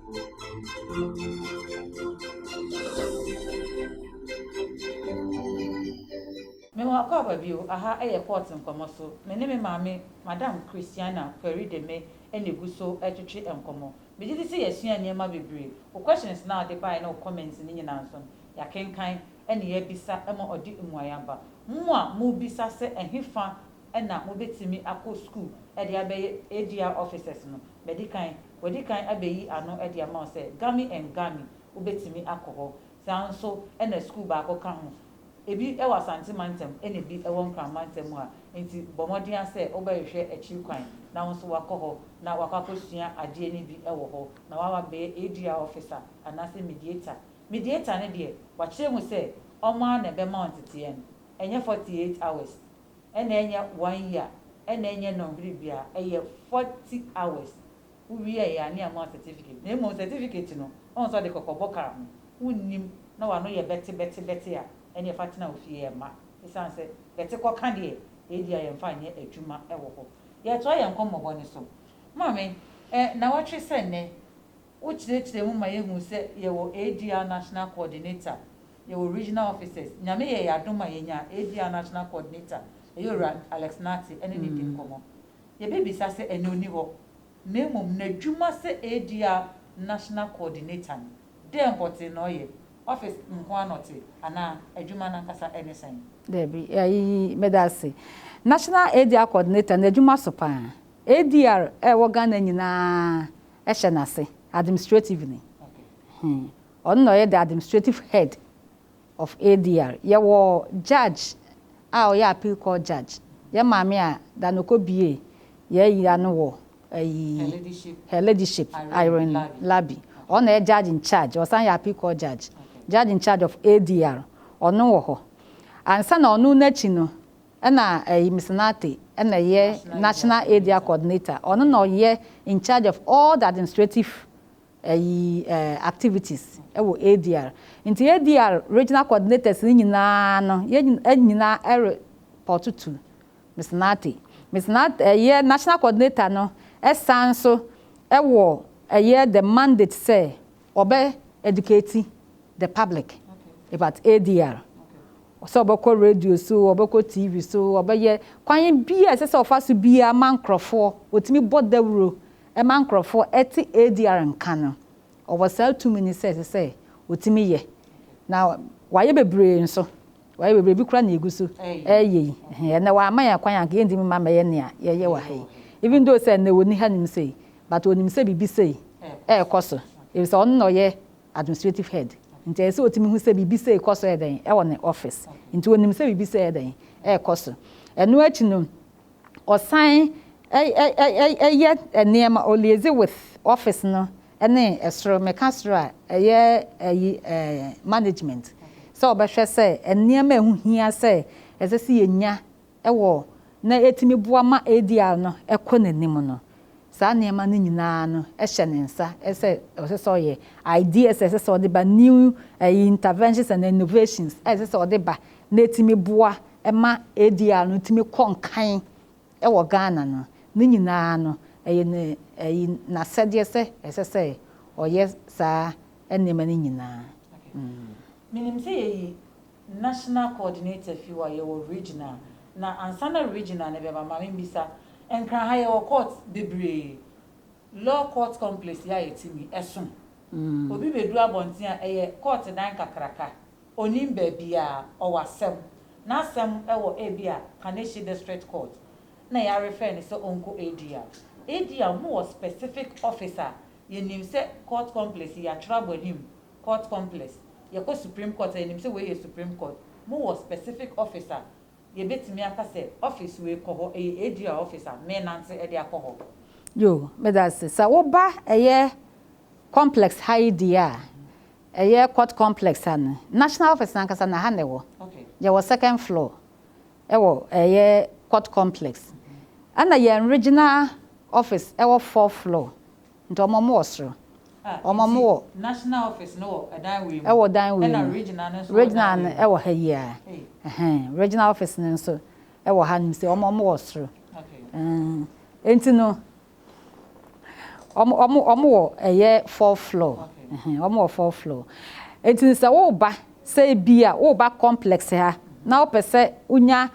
Me wɔ akwaaba bio, aha yɛ court nkɔmɔ so, me ne me maame Madam Christiana Quarry Deme na egu so retwetwe nkɔmɔ. Me gye di sɛ yɛasua nneɛma bebree, wo questions no a wode baeɛ ne wo comments no nyinaa nso no, yɛakenkan na yɛabisa ma ɔde mmuaeɛ aba. Mo a mobisa sɛ ɛhefa na mobɛtumi akɔ sukuu de abɛyɛ ADR officers no, madi kan, wɔadi kan abɛyi ano de ama wo sɛ Gami and Gami, wobɛtumi akɔ hɔ. Saa nso na sukuu baako ka ho. Ɛbi wɔ Asante mantam na ɛbi wɔ Nkran mantam mu a nti bɔ mmɔden ara sɛ wobɛhwehwɛ akyiri kwan na wo nso woakɔ hɔ na woakɔ akɔsua adeɛ no bi wɔ hɔ na woaba abɛyɛ ADR officer anaasɛ mediator. Mediator no deɛ, wɔakyerɛ mu sɛ wɔn ara na ɛbɛma wo nteteɛ no, ɛnyɛ 48 hours ɛna ɛnyɛ one year ɛna ɛnyɛ nɔnhwere bia ɛyɛ forty hours wo wieɛ a ne ama wo certificate na mmom certificate no ɔhu sɛ ɔde kɔkɔbɔ kaa ho wo nnim na wano yɛ bɛte bɛte bɛte a ɛneɛ fa tena wo fie ɛmma ɛsiane sɛ bɛte kɔka deɛ ɛɛdia yɛn mfa nyɛ adwuma ɛwɔ hɔ yɛɛtoa yɛn nkɔmmɔbɔ no so maame ɛɛ nawɔtwe sɛ nnɛ. Wokyerɛkyerɛ mu ma yɛhu sɛ yɛwɔ ADR National Coordinator, yɛwɔ Regional Officers. Nyame yɛɛ yɛn adom a yɛnyaa ADR National Coordinator, ɛyɛ Owura Alex Nartey ɛne no di nkɔmmɔ. Yɛbɛbisa sɛ ɛnnɛ ɔnni hɔ, na mmom n'adwuma sɛ ADR National Coordinator no, dɛn pɔtee na ɔyɛ? Office nko ara na ɔte anaa adwuma no ankasa ne sɛn? Dabi, ayi, meda ase. National ADR Coordinator no adwuma so paa. ADR a ɛwɔ Ghana nyinaa hyɛ n'ase, administrative ni. Ɔno na ɔyɛ the administrative head of ADR. Yɛwɔ judge a ɔyɛ appeal court judge, yɛn maame a da na ɔkɔ bue yɛn ayi ano wɔ ayi Her Ladyship Irene Labi. Ɔno na ɔyɛ judge in charge, ɔsan yɛ appeal court judge, judge in charge of ADR. Ɔno wɔ hɔ. Ansa na ɔno n'akyi no, Ɛna ɛyi Mister Nartey ɛna ɛyɛ National Area Coordinator, ɔno na ɔyɛ in charge of all the administrative ɛyi activities ɛwɔ ADR. Nti ADR Regional Coordinators no nyinaa no yɛn nyinaa ɛre pɔɔto to Mister Nartey. Mister Nartey ɛyɛ National Coordinator no ɛsan so ɛwɔ ɛyɛ the mandate sɛ Ɔbɛ educate the public about ADR. Sɛ ɔbɛkɔ radio so, ɔbɛkɔ TV so, ɔbɛyɛ kwan biaa ɛsɛ sɛ ɔfa so biaa ma nkorɔfoɔ, ɔtumi bɔ dawuro ma nkorɔfoɔ te ADR nka no, ɔwɔ saa tumi no sɛ ɛsɛ sɛ ɔtumi yɛ. Na wayɛ bebree nso. Wayɛ bebree, ebi koraa na yɛgu so reyɛ yi. Ɛnnɛ wama yɛn kwan a, anka yɛrentumi mma mmɛyɛ nea yɛyɛ wɔ ha yi. Even though sɛ ɛnnɛ onni ha nim sei, but onim sɛ biribi sei rekɔ so, efisɛ ɔno na ɔyɛ administrative head. Nti ɛyɛ sɛ otumi hu sɛ biribi sei kɔ so yɛ dɛn wɔ ne office. Nti onim sɛ biribi sei yɛ dɛn rekɔ so. Ɛno akyi no, ɔsan yɛ nneɛma, ɔliaise with office no Ɛne ɛsoro, meka soro a, ɛyɛ ɛyi ɛɛ management, sɛ wɔbɛhwɛ sɛ nneɛma a ɛho hia sɛ ɛsɛ sɛ yɛnya wɔ na ɛtumi boa ma ADR no kɔ n'anim no, saa nneɛma no nyina ara no hyɛ ne nsa sɛ ɔsɛ sɛ ɔyɛ, ideas a ɛsɛ sɛ ɔde ba, new ɛyi interventions and innovations a ɛsɛ sɛ ɔde ba na ɛtumi boa ma ADR no tumi kɔ nkan wɔ Ghana no, ne nyinaa no, ɛyɛ ne, ayi, n'asɛdeɛ sɛ ɛsɛ sɛ ɔyɛ saa nneɛma no nyinaa. Mm. Menim sɛ yɛyi National Coordinator fi hɔ a, yɛwɔ Regional. Na ansa na Regional no bɛba, ma membisa, Nkran ha yɛwɔ court bebree, Law Court Complex yɛ a yɛte mu yi, ɛso? Obi bedu abɔnten a, ɛyɛ kɔɔte dan kakraka. Onnim baabiara. Ɔwɔ asɛm. N'asɛm wɔ ebia Kaneshie District Court, na yɛarefɛɛ no sɛ ɔnkɔ ADR. ADR, wɔwɔ specific office a yɛnim sɛ Court Complex yi, yɛatwerɛ abɔ anim, Court Complex. Yɛkɔ Supreme Court a, yɛnim sɛ wei yɛ Supreme Court. Wɔwɔ specific office a Yɛbɛtumi aka sɛ office wei kɔ hɔ, ɛyɛ ADR office a, menante de akɔ hɔ. Yo, medase. Sɛ woba ɛyɛ complex ha yi deɛ a, ɛyɛ court complex ha no, national office no ankasa no ɛha na ɛwɔ. Yɛwɔ second floor wɔ ɛyɛ court complex. Ɛna yɛn regional office ɛwɔ fourth floor. Nti ɔmo ɔmo wɔ soro. Ah Ɔmo ɔmo nti wɔ. national office no wɔ ɛdan wei mu. Ɛwɔ dan wei mu. Ɛna regional no nso wɔ dan wei mu. Regional no ɛwɔ ha yi aa. Ei. Ɛhɛn regional office no nso ɛwɔ ha nom se ɔmo ɔmo wɔ soro. Okay. Ɛɛn nti no ɔmo ɔmo ɔmo wɔ ɛyɛ fourth floor. Okay. Ɛhɛn ɔmo wɔ fourth floor. Nti no sɛ wo ba sɛ ebia wo ba complex ha na wo pɛ sɛ wo nya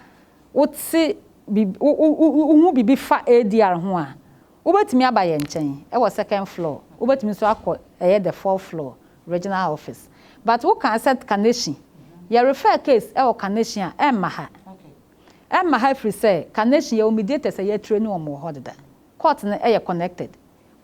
wo te biribi wo wo wo hu biribi fa ADR ho a Wobɛtumi aba yɛn nkyɛn wɔ second floor, wobɛtumi nso akɔ ɛyɛ the fourth floor regional office but wo kaa sɛ Kaneshie, yɛ refer case wɔ Kaneshie a ɛmma ha, ɛmma ha firi sɛ Kaneshie yɛwɔ mediators a yɛatraini wɔn wɔ hɔ deda, court no yɛ connected,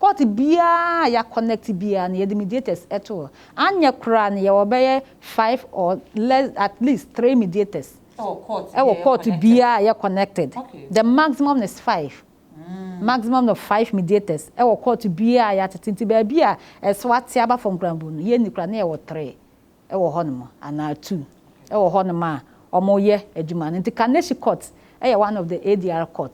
court biara a yɛa connect biara no yɛde mediators to hɔ, anyɛ koraa no yɛwɔ bɛyɛ five or less at least three mediators wɔ court biara a yɛ connected, the maximum is five. Maximum of five mediators wɔ kɔɔto biara a yɛatete nti baabi a ɛso ate aba fam koraa mpo no, yɛnni koraa na yɛwɔ three wɔ hɔnom anaa two wɔ hɔnom a wɔyɛ adwuma no. Nti Kaneshie Court yɛ one of the ADR court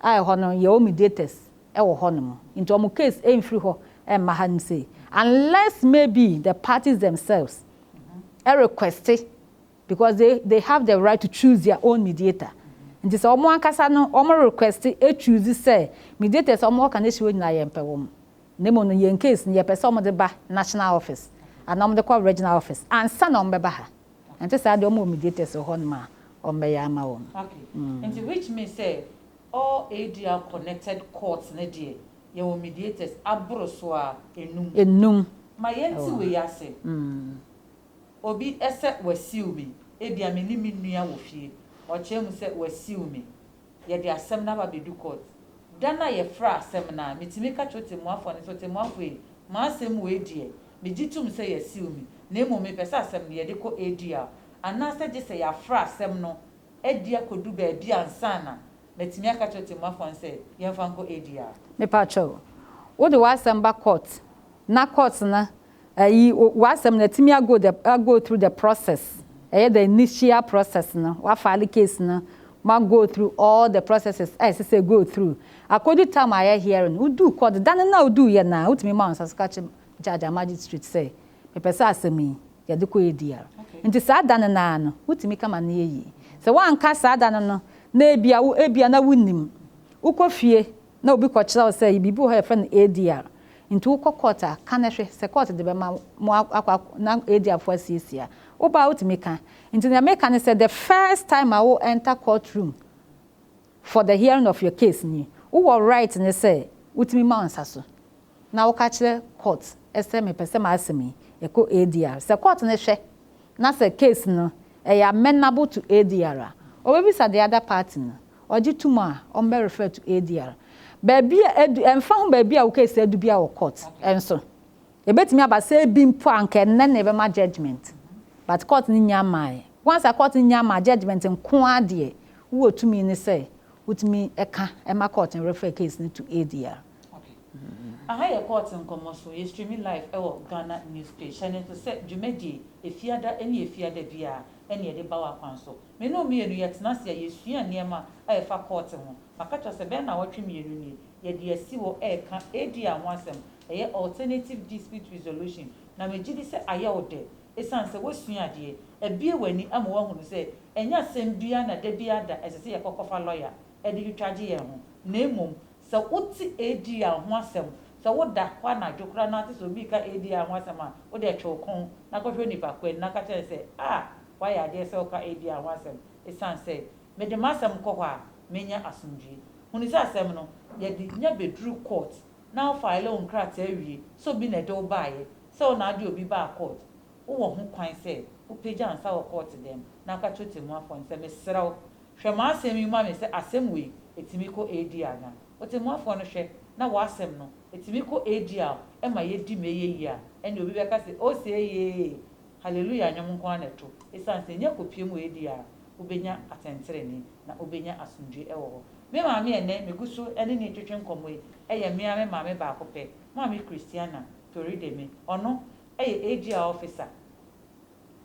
a ɛhɔ no yɛwɔ mediators wɔ hɔnom nti wɔn case mfiri hɔ mma hanom sei unless maybe the parties themselves request Because they they have the right to choose their own mediator nti sɛ wɔn ankasa no wɔn request choose sɛ mediators a wɔn wɔ Kaneshie hɔ nyinaa yɛn pɛ wɔn na mmom no yɛn case no yɛ pɛ sɛ wɔn de ba national office anaa wɔn de kɔ regional office ansa na wɔn bɛba ha ɛnte saa deɛ wɔn wɔ mediators wɔ hɔ nom a wɔn bɛyɛ ama wɔn. Okay nti which means sɛ all ADR connected courts no deɛ yɛn wɔ mediators aboro so a enum. Enum. Ma yɛn te wei ase. Obi sɛ wasiw me, ebia me ne me nua wɔ fie, ɔkyerɛ mu sɛ wasiw me. Yɛde asɛm no aba abedu kɔɔt. Da no a yɛfra asɛm no a, mitumi ka kyerɛ ɔtɛmmuafoɔ no sɛ, Ɔtɛmmuafoɔ ei, m'asɛm wei deɛ, megye tom sɛ yasiw me, na mmom mepɛ sɛ asɛm no yɛde kɔ ADR, anaasɛ gye sɛ yɛafra asɛm no adi akɔdu baabi ansa na matumi aka akyerɛ ɔtɛmmuafoɔ no sɛ yɛmfa nkɔ ADR. Mepa kyɛw, wode w'asɛm ba kɔɔt na kɔɔt no Ayi w'asɛm no atumi ago the ago through the process ɛyɛ the initial process no wa file case no ma go through all the processes a ɛsɛ sɛ ɛgo through akɔdu time a yɛ hearing wo duu court da no no a wo duu yɛ no a wo tumi ma wo nsa so ka kye judge a magistrate sɛ me pɛ sɛ asɛm yi yɛ de kɔ ADR nti saa da no no ara no wo tumi ka ma no yɛ yie sɛ wo anka saa da no no na ebia wo ebia na wo nim wo kɔ fie Na obi kɔkyerɛw sɛ biribi wɔ hɔ a yɛfrɛ no ADR. Nti wokɔ court a, ka no hwɛ. Sɛ court de bɛma mo akɔ na ADR fo asiesie a, woba a wotumi ka. Nti nea meka ne sɛ the first time a wo enter court room for the hearing of your case ni, wowɔ right ne sɛ wotumi ma wo nsa so na woka kyerɛ court sɛ mepɛ sɛ m'asɛm yi ɛkɔ ADR. Sɛ court no hwɛ na sɛ case no ɛyɛ amenable to ADR a, wɔbɛbisa the other party no. Ɔgye to mu a, ɔmbɛ refer to ADR. Baabi a edu, ɛmfa ho baabi a wo case adu biara wɔ court nso, ebetumi aba sɛ ebi mpo a anka ɛnnɛ na yɛbɛma judgement but court no nnya mmaeɛ. Once a court no nnya mmaa judgement nko ara deɛ, wo wɔ tumi no sɛ wotumi ka ma court no refer case no to ADR. Okay. Aha yɛ court nkɔmmɔ so. Yɛ streami live wɔ Ghana News page. Hyɛ no nso sɛ dwumadie, efiada ne efiada biara, ɛne yɛde ba w'akwan so. Me ne wo mmienu, yɛtena ase a, yɛsua nneɛma a ɛfa kɔɔte ho. Maka akyerɛ wo sɛ, bɛyɛ nnawɔtwe mmienu nie, yɛde asi hɔ reka ADR ho asɛm, ɛyɛ Alternative Dispute Resolution, na megye di sɛ ayɛ wo dɛ esiane sɛ woasua adeɛ, abue w'ani ama woahunu sɛ ɛnyɛ asɛm biara na da biara da ɛsɛ sɛ yɛkɔkɔfa lɔya de twitwagye yɛn ho, na mmom sɛ wote ADR ho asɛm, sɛ woda hɔ anadwo koraa na woate sɛ obi reka ADR ho asɛm a, wode twe wo kɔn na kɔhwɛ onipa kɔn na ka kyerɛ no sɛ, Ah! Woayɛ adeɛ sɛ woka Edia ho asɛm esiane sɛ mede m'asɛm kɔ hɔ a menya asomdwoe. Hunu sɛ asɛm no, yɛde nya bɛduruu court na wo file wo nkrataa wie sɛ obi na ɛde wo baeɛ sɛ wo na wode obi baa court. Wowɔ ho kwan sɛ wopagya wo nsa wɔ court dɛm na woka kyerɛ ɔtɛmmuafoɔ no sɛ, Mesrɛ wo, hwɛ m'asɛm yi ma me sɛ asɛm wei ɛtumi kɔ Edia anaa? Ɔtɛmmuafoɔ no hwɛ na w'asɛm no ɛtumi kɔ Edia a ɛma yɛdi m'ɛyɛ yie a, ɛnneɛ obi bɛka sɛ, Oseeyee! Haleluya nnwom nko ara na ɛto, esiane sɛ ɛnyɛ kopiam wɔ adi a wobenya atɛntrenee, na wobenya asomdwoe wɔ hɔ. Me maame a ɛnnɛ migu so ne no retwetwe nkɔmmɔ yi yɛ me ara me maame baako pɛ, Maame Christiana Torideme. Ɔno yɛ AGR Officer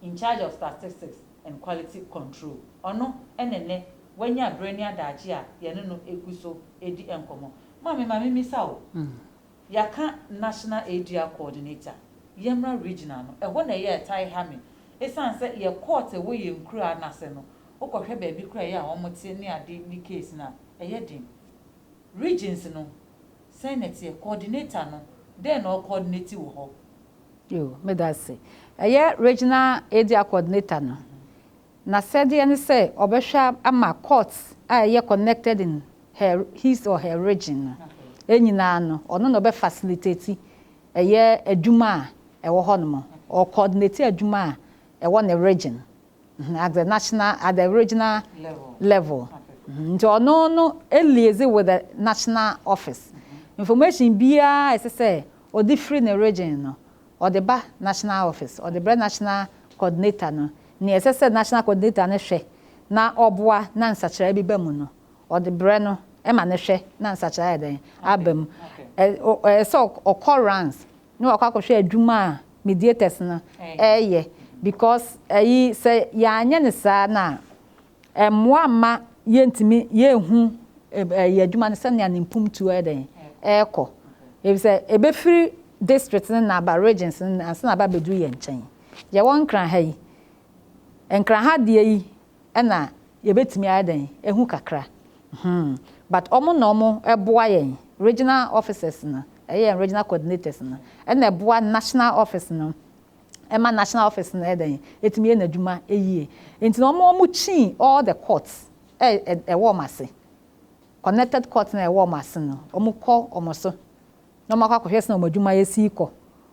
in charge of Statistics and Quality Control. Ɔno na ɛnnɛ wanya bere ne adagye a yɛne no gu so redi nkɔmmɔ. Maame, ma mimmisa wo, Yɛaka National Area Coordinator, yɛmmra Regional no. Ɛhɔ na ɛyɛ a ɛtae ha me. Esiane sɛ yɛ court wɔ yɛn nkuraa no ase no, wokɔhwɛ baabi koraa a ɛyɛ a wɔte ne ade ne case no a, ɛyɛ den. Regions no, sɛn na ɛteɛ? Coordinator no, dɛn na ɔrecoordinate wɔ hɔ? Yoo, meda ase. Ɛyɛ Regional Area Coordinator no. N'asɛdeɛ ne sɛ ɔbɛhwɛ ama courts a ɛyɛ connected in her, his or her region no nyinaa no, ɔno na ɔbɛ facilitate ɛyɛ adwuma a ɛwɔ hɔ nom, ɔ coordinate adwuma a ɛwɔ ne region hmm, at the national, at the regional level hmm, nti ɔno no liaise with the national office. Information biara a ɛsɛ sɛ ɔde firi ne region no, ɔde ba national office, ɔde brɛ national coordinator no, nea ɛsɛ sɛ National Coordinator no hwɛ na ɔboa na nsakyeraɛ bi ba mu no, ɔde brɛ no ma no hwɛ na nsakyeraɛ ayɛ dɛn? Aba mu. Ɛ o ɛyɛ sɛ ɔkɔ rounds na wakɔ akɔhwɛ adwuma a mediators no reyɛ because ayi sɛ yɛanyɛ no saa no a, Ɛmmoa mma yɛntumi, yɛnhu ɛyɛ adwuma no sɛnea ne mpomtuo yɛ dɛn? Ɛrekɔ. Efisɛ ɛbɛfiri district no na aba regions no na ansa na aba abɛduru yɛn nkyɛn. Yɛwɔ Nkran ha yi, Nkran ha deɛ yi na yɛbɛtumi ayɛ dɛn? Ahu kakra. Hmm. But wɔn na wɔboa yɛn, regional officers no, ɛyɛ yɛn regional coordinators no, ɛna ɛboa national office no ɛma national office no yɛ dɛn, ɛtumi yɛ n'adwuma yie. Nti no wɔn wɔn kyii all the courts a ɛwɔ wɔn ase, connected courts no a ɛwɔ wɔn ase no, wɔn kɔ wɔn so na wɔn akɔ akɔhwɛ sɛnea wɔn adwuma yɛ sii kɔ,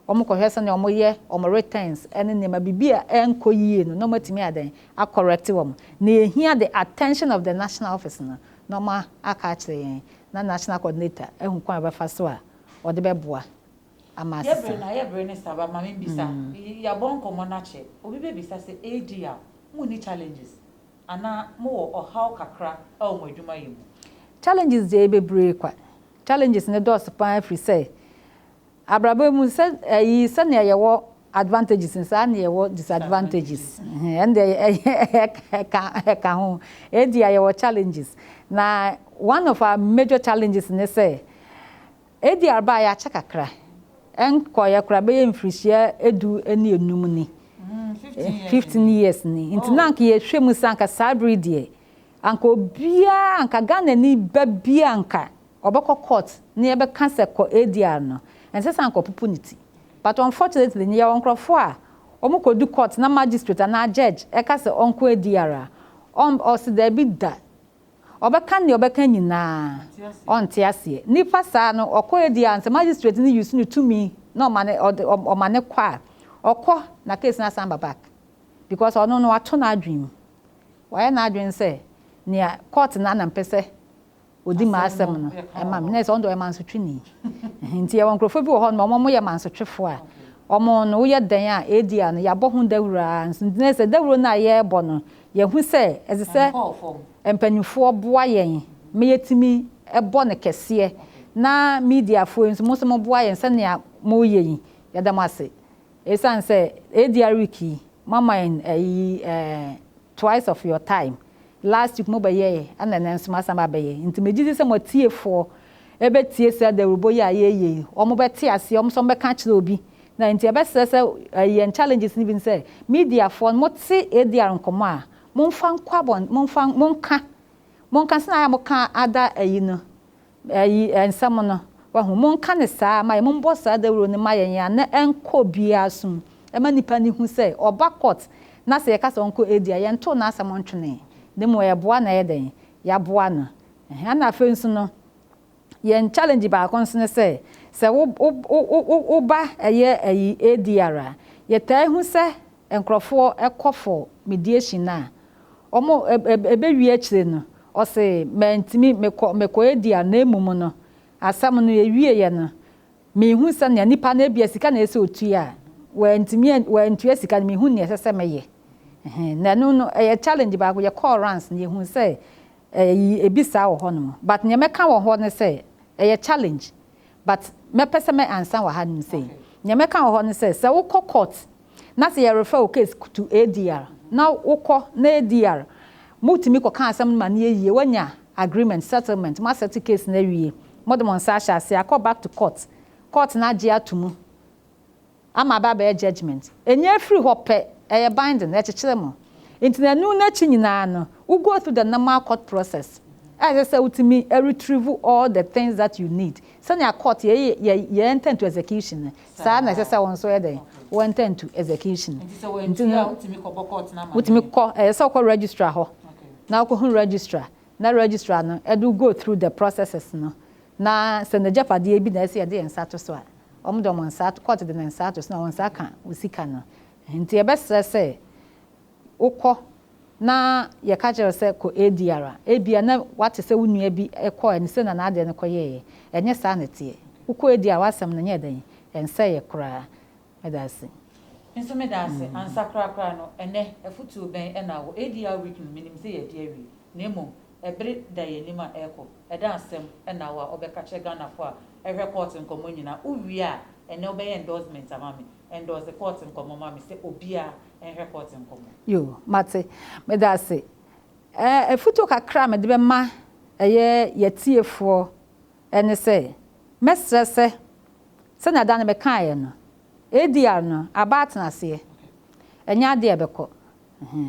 wɔn kɔhwɛ sɛnea wɔn yɛ wɔn returns ne nneɛma, biribi a ɛnkɔ yie no na wɔn atumi ayɛ dɛn, a correct wɔn. Nea ɛhia the attention of the national office no na wɔn aka akyerɛ yɛn na national coordinator ahu kwan a ɔbɛfa so a ɔde bɛboa ama asesa. Yɛbrɛ na ayɛ brɛ ne saba ma menbisa yɛabɔ nkɔmmɔ na kyɛ obi bɛbisa sɛ ADR monni challenges anaa mowɔ ɔhaw kakra wɔ mo adwuma yɛ mu? Challenges deɛ yɛ bebree kwa, challenges no dɔɔso pa ara firi sɛ abrabɔ yi mu sɛ ayi sɛnea yɛwɔ advantages no saa ara na yɛwɔ disadvantages hɛn ɛno deɛ ɛka ɛka ho ADR yɛwɔ challenges na one of our major challenges ne sɛ Edi aber a yɛakyɛ kakra, nnkɔɔɛ koraa, bɛyɛ mfirihyia du ne enum ni, fifteen years ni, ntsi na anka yɛhwɛ mu sɛ anka saa ber yi deɛ, anka obiara, anka Ghananyi ba biara anka ɔbɔkɔ court na yɛbɛka sɛ kɔ ADR no, nnsɛ sɛ anka ɔpopo ne tsi. But unfortunately no, yɛwɔ nkorɔfo a wɔkɔdu court na magistrate anaa judge ka sɛ ɔnkɔ ADR a, ɔnn ɔse daabi da. Ɔbɛka nea ɔbɛka nyinaa, ɔnte aseɛ. Nnipa saa no, ɔkɔ adi a, sɛ magistrate no use ne tumi na ɔma no, ɔde, ɔma no kɔ a, ɔkɔ na case no asan ba back. Because ɔno no, wato n'adwene mu. Wayɛ n'adwene sɛ, nea court no ara na mpɛ sɛ ɔdi m'asɛm no, ɛma me. Na ɛsɛ, ɔno deɛ ɔyɛ mansotweni. Ɛhɛn, nti yɛwɔ nkurɔfoɔ bi wɔ hɔnom a, wɔn, wɔyɛ mansotwefoɔ a, wɔn no, woyɛ dɛn a, adi a no, yɛabɔ ho dawuro ara nso. Nti na ɛsɛ sɛ, dawuro no a yɛrebɔ no, Yɛahu sɛ ɛsɛ sɛ mpanimfoɔ boa yɛn ma yɛtumi bɔ no kɛseɛ, na mediafoɔ yi nso, mo nso moboa yɛn sɛnea moreyɛ yi, yɛda mo ase. Ɛsiane sɛ Adia week yi, moama yɛn ayi eh, twice of your time. Last week mobɛyɛɛ, ɛna ɛnɛ nso moasan aba abɛyɛ. Nti megye di sɛ mo atiefoɔ bɛtie saa dawurubɔ yi a yɛreyɛ yi, wɔbɛte aseɛ, wɔn nso wɔbɛka akyerɛ obi Na nti ɛbɛsɛ sɛ yɛn challenges no bi ne sɛ, media foɔ no mote ADR nkɔmmɔ a, momfa nkɔ abɔn, momfa, monka, monka sɛnea ayɛ a moka ada ayi no, ayi nsɛm no, wahu, monka no saa ma yɛn, mommɔ saa dawuro no ma yɛn yɛn anan nkɔ obiara so ma nnipa no hu sɛ ɔba court na sɛ yɛka sɛ ɔnkɔ ADR, yɛntoo n'asɛm ntwenee, na mmom ɛyɛ boa na ɛyɛ dɛn, yɛaboa no, ɛhɛn, ɛna afei nso no, Yɛn challenge baako nso ne sɛ, sɛ wo wo wo wo wo ba yɛ ayi ADR a, yɛtaa hu sɛ nkorɔfoɔ kɔ for mediation no a, wɔn ɛ ɛ ɛbɛwie akyire no, ɔse mantumi mekɔ mekɔ ADR na mmom no, asɛm no yɛwieeɛ no, menhu sɛnea nipa no ebia sika na ɛsɛ ɔtua a, wantumi an wantua sika no, menhu nea ɛsɛ sɛ meyɛ. Ɛhɛn, na ɛno no ɛyɛ challenge baako, yɛkɔɔ runs no yɛhuu sɛ Eyi ebi saa wɔ hɔ nom but nea mɛka wɔ hɔ ne sɛ ɛyɛ challenge but mɛpɛ sɛ mɛ ansa wɔ ha nom sei. Nea mɛka wɔ hɔ ne sɛ sɛ wokɔ court na sɛ yɛ refer wo case to ADR na wokɔ na ADR mo tumi kɔ ka asɛm no ma no yɛ yie wanya agreement, settlement, mo asettle case no awie mo de mo nsa ahyɛ aseɛ akɔ back to court, court no agye ato mu ama aba abɛyɛ judgement. Ɛnya ɛfiri hɔ pɛ, ɛyɛ binding, ɛkyekyere mo. Nti na ɛno n'akyi nyinaa no, wo go through the normal court process a ɛsɛ sɛ wotumi retrieve all the things that you need. Sɛnea court yɛ yɛ yɛ enter into execution no, saa na ɛsɛ sɛ wo nso yɛ dɛn? Wo enter into execution. Nti sɛ wantua a, wotumi kɔbɔ court no amaneɛ? Wotumi kɔ, ɛyɛ sɛ wokɔ registrar hɔ na wokɔhu registrar na registrar no de wo go through the processes no na sɛ n'agyapadeɛ bi na ɛsɛ sɛ yɛde yɛn nsa to so a, Wɔde wɔn nsa ato, court de ne nsa ato so na wɔn nsa aka wo sika no. Nti yɛbɛsrɛ sɛ wokɔ na yɛka kyerɛ wo sɛ kɔ ADR a, ebia na woate sɛ wo nua bi kɔɔɛ no sei na n'adeɛ no kɔyɛɛyɛ. Ɛnyɛ saa na ɛteɛ. Wokɔ ADR a w'asɛm no nyɛɛ dɛn? Ɛnsɛeɛ koraa. Meda ase. Me nso meda ase. Ansa korakora no, ɛnnɛ afotuo bɛn na wɔ ADR week no? Menim sɛ yɛadi awie, na mmom Bere da yɛn anim a ɛrekɔ. Ɛda nsɛm na wo a ɔbɛka kyerɛ Ghanafoɔ a ɛhwɛ court nkɔmmɔ nyinaa. Wo wie a, ɛnnɛ wo bɛyɛ endorsement ama me. Endorse court nkɔmmɔ ma me sɛ obiara nhwɛ court nkɔmmɔ. Yoo, mate. Meda ase. Ɛɛ, afutuo kakra a mede bɛma ɛyɛ y'atiefoɔ ne sɛ, mɛsrɛ sɛ, sɛnea da no mekaeɛ no, ADR no, aba atenaseɛ. Ɛnyɛ adeɛ a ɛbɛkɔ.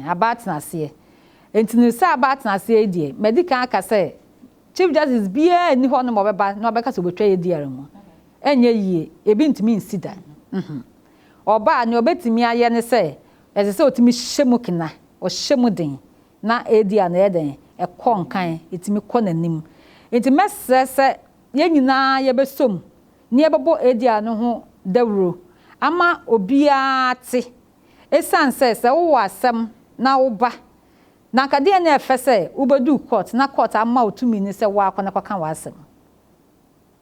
Aba atena aseɛ. Enti no sɛ aba atena aseɛ yi deɛ, madi kan aka sɛ Chief Justice biara nni hɔnom a ɔbɛba na ɔbɛka sɛ ɔbɛtwa ADR mu. Ɛnyɛ yie. Ebi ntumi nsi da. Ɔba a, nea ɔbɛtumi ayɛ ne sɛ, ɛsɛ sɛ ɔtumi hyɛ mu kena, ɔhyɛ mu den na ADR no ɛyɛ dɛn? Ɛkɔ nkan, ɛtumi kɔ n'anim. Enti mɛsrɛ sɛ yɛn nyinaa yɛbɛsɔ mu na yɛbɛbɔ ADR no ho dawuro ama obiara ate Esiane sɛ sɛ wowɔ asɛm na woba na anka deɛ na ɛfɛ sɛ wobɛduu court na court ama wo tumi no sɛ wo ara kɔ na kɔka w'asɛm.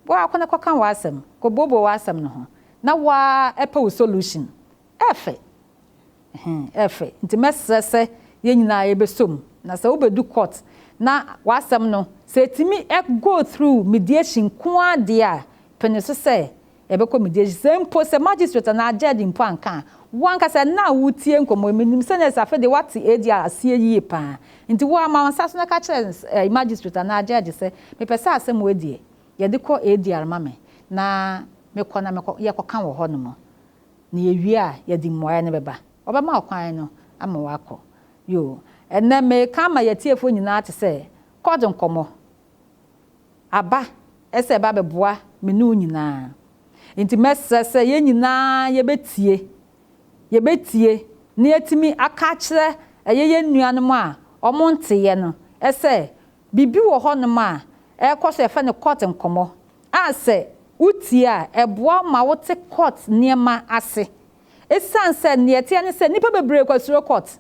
Wo ara kɔ na kɔka w'asɛm, kɔbuobuo w'asɛm no ho na wo ara pɛ wo solution. Ɛfɛ. Ɛhɛn, ɛfɛ. Nti mɛsrɛ sɛ yɛn nyinaa yɛbɛsɔ mu na sɛ wobɛdu court na w'asɛm no, sɛ ɛtumi go through mediation nko ara deɛ a, pene so sɛ Ɛbɛkɔ me gyes sɛ mpo sɛ magistrate anaa judge mpo anka a, wo ankasa ɛnnɛ a woretie nkɔmmɔ yi, menim sɛ nurse afei deɛ woate ADR aseɛ yie pa ara. Nti wo ara ma wo nsa so na ka kyerɛ nurse ɛɛ magistrate anaa judge sɛ, mepɛ sɛ asɛm wei deɛ, yɛde kɔ ADR ma me na mekɔ na mekɔ, yɛkɔka wɔ hɔnom na yɛwie a, yɛde mmuaeɛ no bɛba. Wɔbɛma wo kwan no ama woakɔ. Yoo. Ɛnnɛ, mereka ama yɛn atiefoɔ nyinaa te sɛ court nkɔmmɔ. aba sɛ ɛbɛ abɛboa me ne wo nyinaa. Enti mɛsrɛ sɛ yɛn nyinaa yɛbɛtie, yɛbɛtie na yɛatumi aka akyerɛ ɛyɛ yɛn nuanom a wɔnteeɛ no sɛ biribi wɔ hɔnom a ɛrekɔ so a yɛfrɛ no court nkɔmmɔ a sɛ wotie a ɛboa wo ma wote court nneɛma ase. Ɛsiane sɛ deɛ ɛteɛ ne sɛ nnipa bebree kɔ suro court.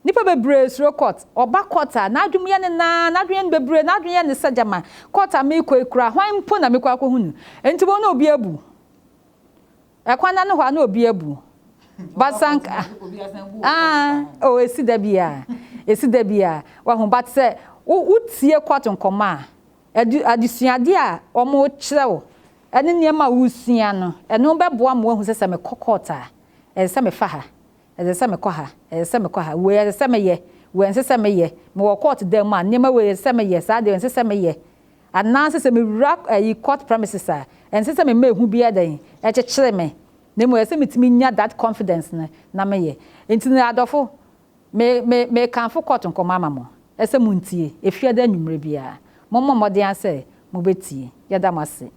Nnipa bebree suro court. Ɔba court a, n'adwene yɛ no naa, n'adwene yɛ no bebree, n'adwene yɛ no sɛ gyama, court a merekɔ yi koraa, hwan mpo na mekɔ akɔhu no? Enti wɔn na obi abu. Ɛkwan no ano hɔ a na obi abu. But sɛ anka, ah, oh, esi da bi a, esi da bi a, wahu, but sɛ wotie court nkɔmmɔ a, adu, adesuade a wɔkyerɛ wo, ɛne nneɛma a wosua no, ɛno bɛboa ma wahu sɛ sɛ mekɔ court a, ɛsɛ sɛ mefa ha. Ɛsɛ sɛ mekɔ ha, ɛsɛ sɛ mekɔ ha, wei ɛsɛ sɛ meyɛ, wei ɛnsɛ sɛ meyɛ, mewɔ court dan mu a, nneɛma wei ɛsɛ sɛ meyɛ, saa deɛ ɛnsɛ sɛ meyɛ. Anaasɛ sɛ mewura ɛyi court premises a, ɛnsɛ sɛ mema ehu biara da yi ɛkyekyere me, na mmom ɛsɛ sɛ metumi nya that confidence no na meyɛ. Nti no adɔfo, me, me, mekamfo court nkɔmmɔ ama mo, ɛsɛ sɛ montie, ɛfiada anwummerɛ biara, mommɔ mmɔden ara sɛ mobɛtie. Yɛda mo ase.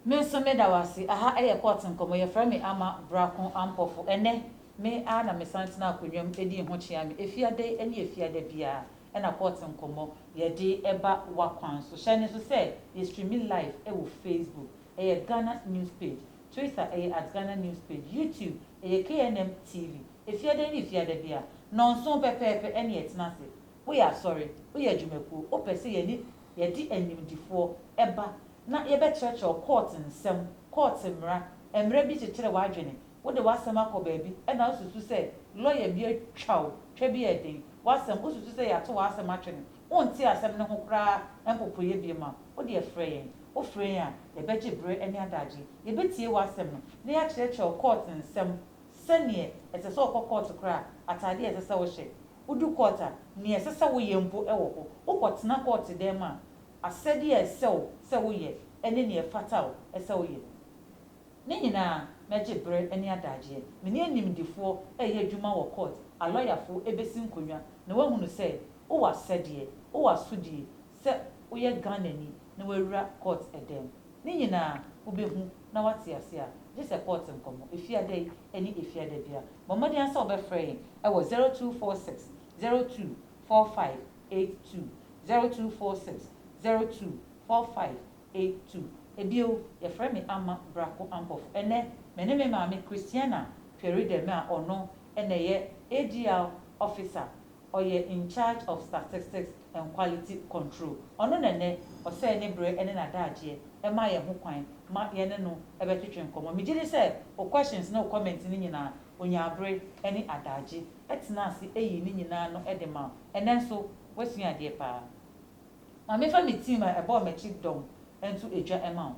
Me nso me da wo ase. Aha yɛ court nkɔmmɔ. Yɛfrɛ me Ama Brako Ampofo. Ɛnnɛ, me ara na mesan tenaa akonnwa mu dii ho kyeame. Efiada yi ne Efiada biara na court nkɔmmɔ yɛde ba w'akwan so. Hyɛ no nso sɛ yɛ streami live wɔ Facebook, ɛyɛ Ghana News Page, Twitter, ɛyɛ at Ghana News Page, YouTube, ɛyɛ KNM TV. Efiada yi ne Efiada biara, nnɔnson pɛpɛɛpɛ ɛne yɛ tena ase. Woyɛ asɔre, woyɛ adwumakuo, wopɛ sɛ yɛne yɛde animdefoɔ ba na yɛbɛkyerɛkyerɛw kɔɔt nsɛm, kɔɔt mmara, mmara bi kyekyere w'adwene, wode w'asɛm akɔ baabi na wosusu sɛ lɔya bi atwa wo twa bi a ɛden, w'asɛm, wosusu sɛ yɛato w'asɛm atwene, wonte asɛm no ho koraa mpopoeɛ biom a, wo deɛ frɛ yɛn. Wofrɛ yɛn a, yɛbɛgye bere ne adagye, yɛbɛtie w'asɛm no na yɛakyerɛkyerɛw kɔɔt nsɛm, sɛdeɛ ɛsɛ sɛ wokɔ kɔɔt koraa, ataadeɛ a ɛsɛ sɛ wohyɛ, wodu kɔɔt a, nea ɛsɛ sɛ woyɛ mpo wɔ hɔ, wokɔtena kɔɔt dan mu a, asɛdeɛ a ɛsɛ wo sɛ woyɛ ne nea ɛfata wo sɛ woyɛ no nyinaa na gye berɛ ne adagyeɛ. Me ne animdefoɔ reyɛ adwuma wɔ kɔɔt, alɔyafoɔ rebɛsi nkonnwa na wɔahunu sɛ wowɔ asɛdeɛ, wowɔ asodie sɛ woyɛ Ghanani na woawura kɔɔt dan mu. Ne nyinaa wobɛhu na woate aseɛ a, gye sɛ kɔɔt nkɔmmɔ, efiada yi ne efiada biara. Bɔ mmɔden ara sɛ wobɛfrɛ yɛn wɔ zero two four six zero two four five eight two zero two four six zero two four five eight two Ebio, yɛfrɛ me Amma Brako Ampɔfo. Ɛnnɛ, me ne me maame Christiana Tweridem a ɔno na ɛyɛ ADR Officer, ɔyɛ In Charge of Statistics and Quality Control. Ɔno na ɛnnɛ ɔsɛe ne berɛ ne n'adaagyeɛ ma yɛn ho kwan ma yɛne no bɛtwetwe nkɔmmɔ. Megye di sɛ wo questions ne wo comments no nyinaa Onyaa bere ne adagye tenaa ase yii ne nyinaa ano de maa wo. Ɛnnɛ nso, woasua adeɛ paa. Ma memfa me tiim a ɛbɔɔ m'akyi dɔm nto dwa mma wo.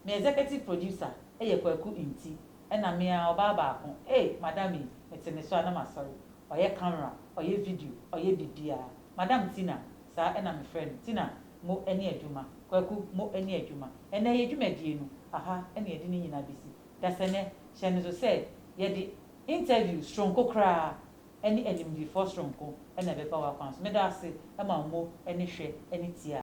Me executive producer yɛ Kwaku Nti, ɛnna me ara, ɔbaa baako. Ei, madam yi, mete ne so a na masɔre. Ɔyɛ camera, ɔyɛ video, ɔyɛ biribiara. Madam Tina, saa na mefrɛ no, Tina, mo ani adwuma, Kwaku, mo ani adwuma. Ɛnnɛ, yɛn dwumadie no, aha na yɛde ne nyinaa bɛsi. Dasani, hyɛ no so sɛ yɛde interview soronko koraa ne animdefɔɔ soronko na ɛbɛba w'akwan so. Meda wo ase ma wo mo ne hwɛ ne tie a.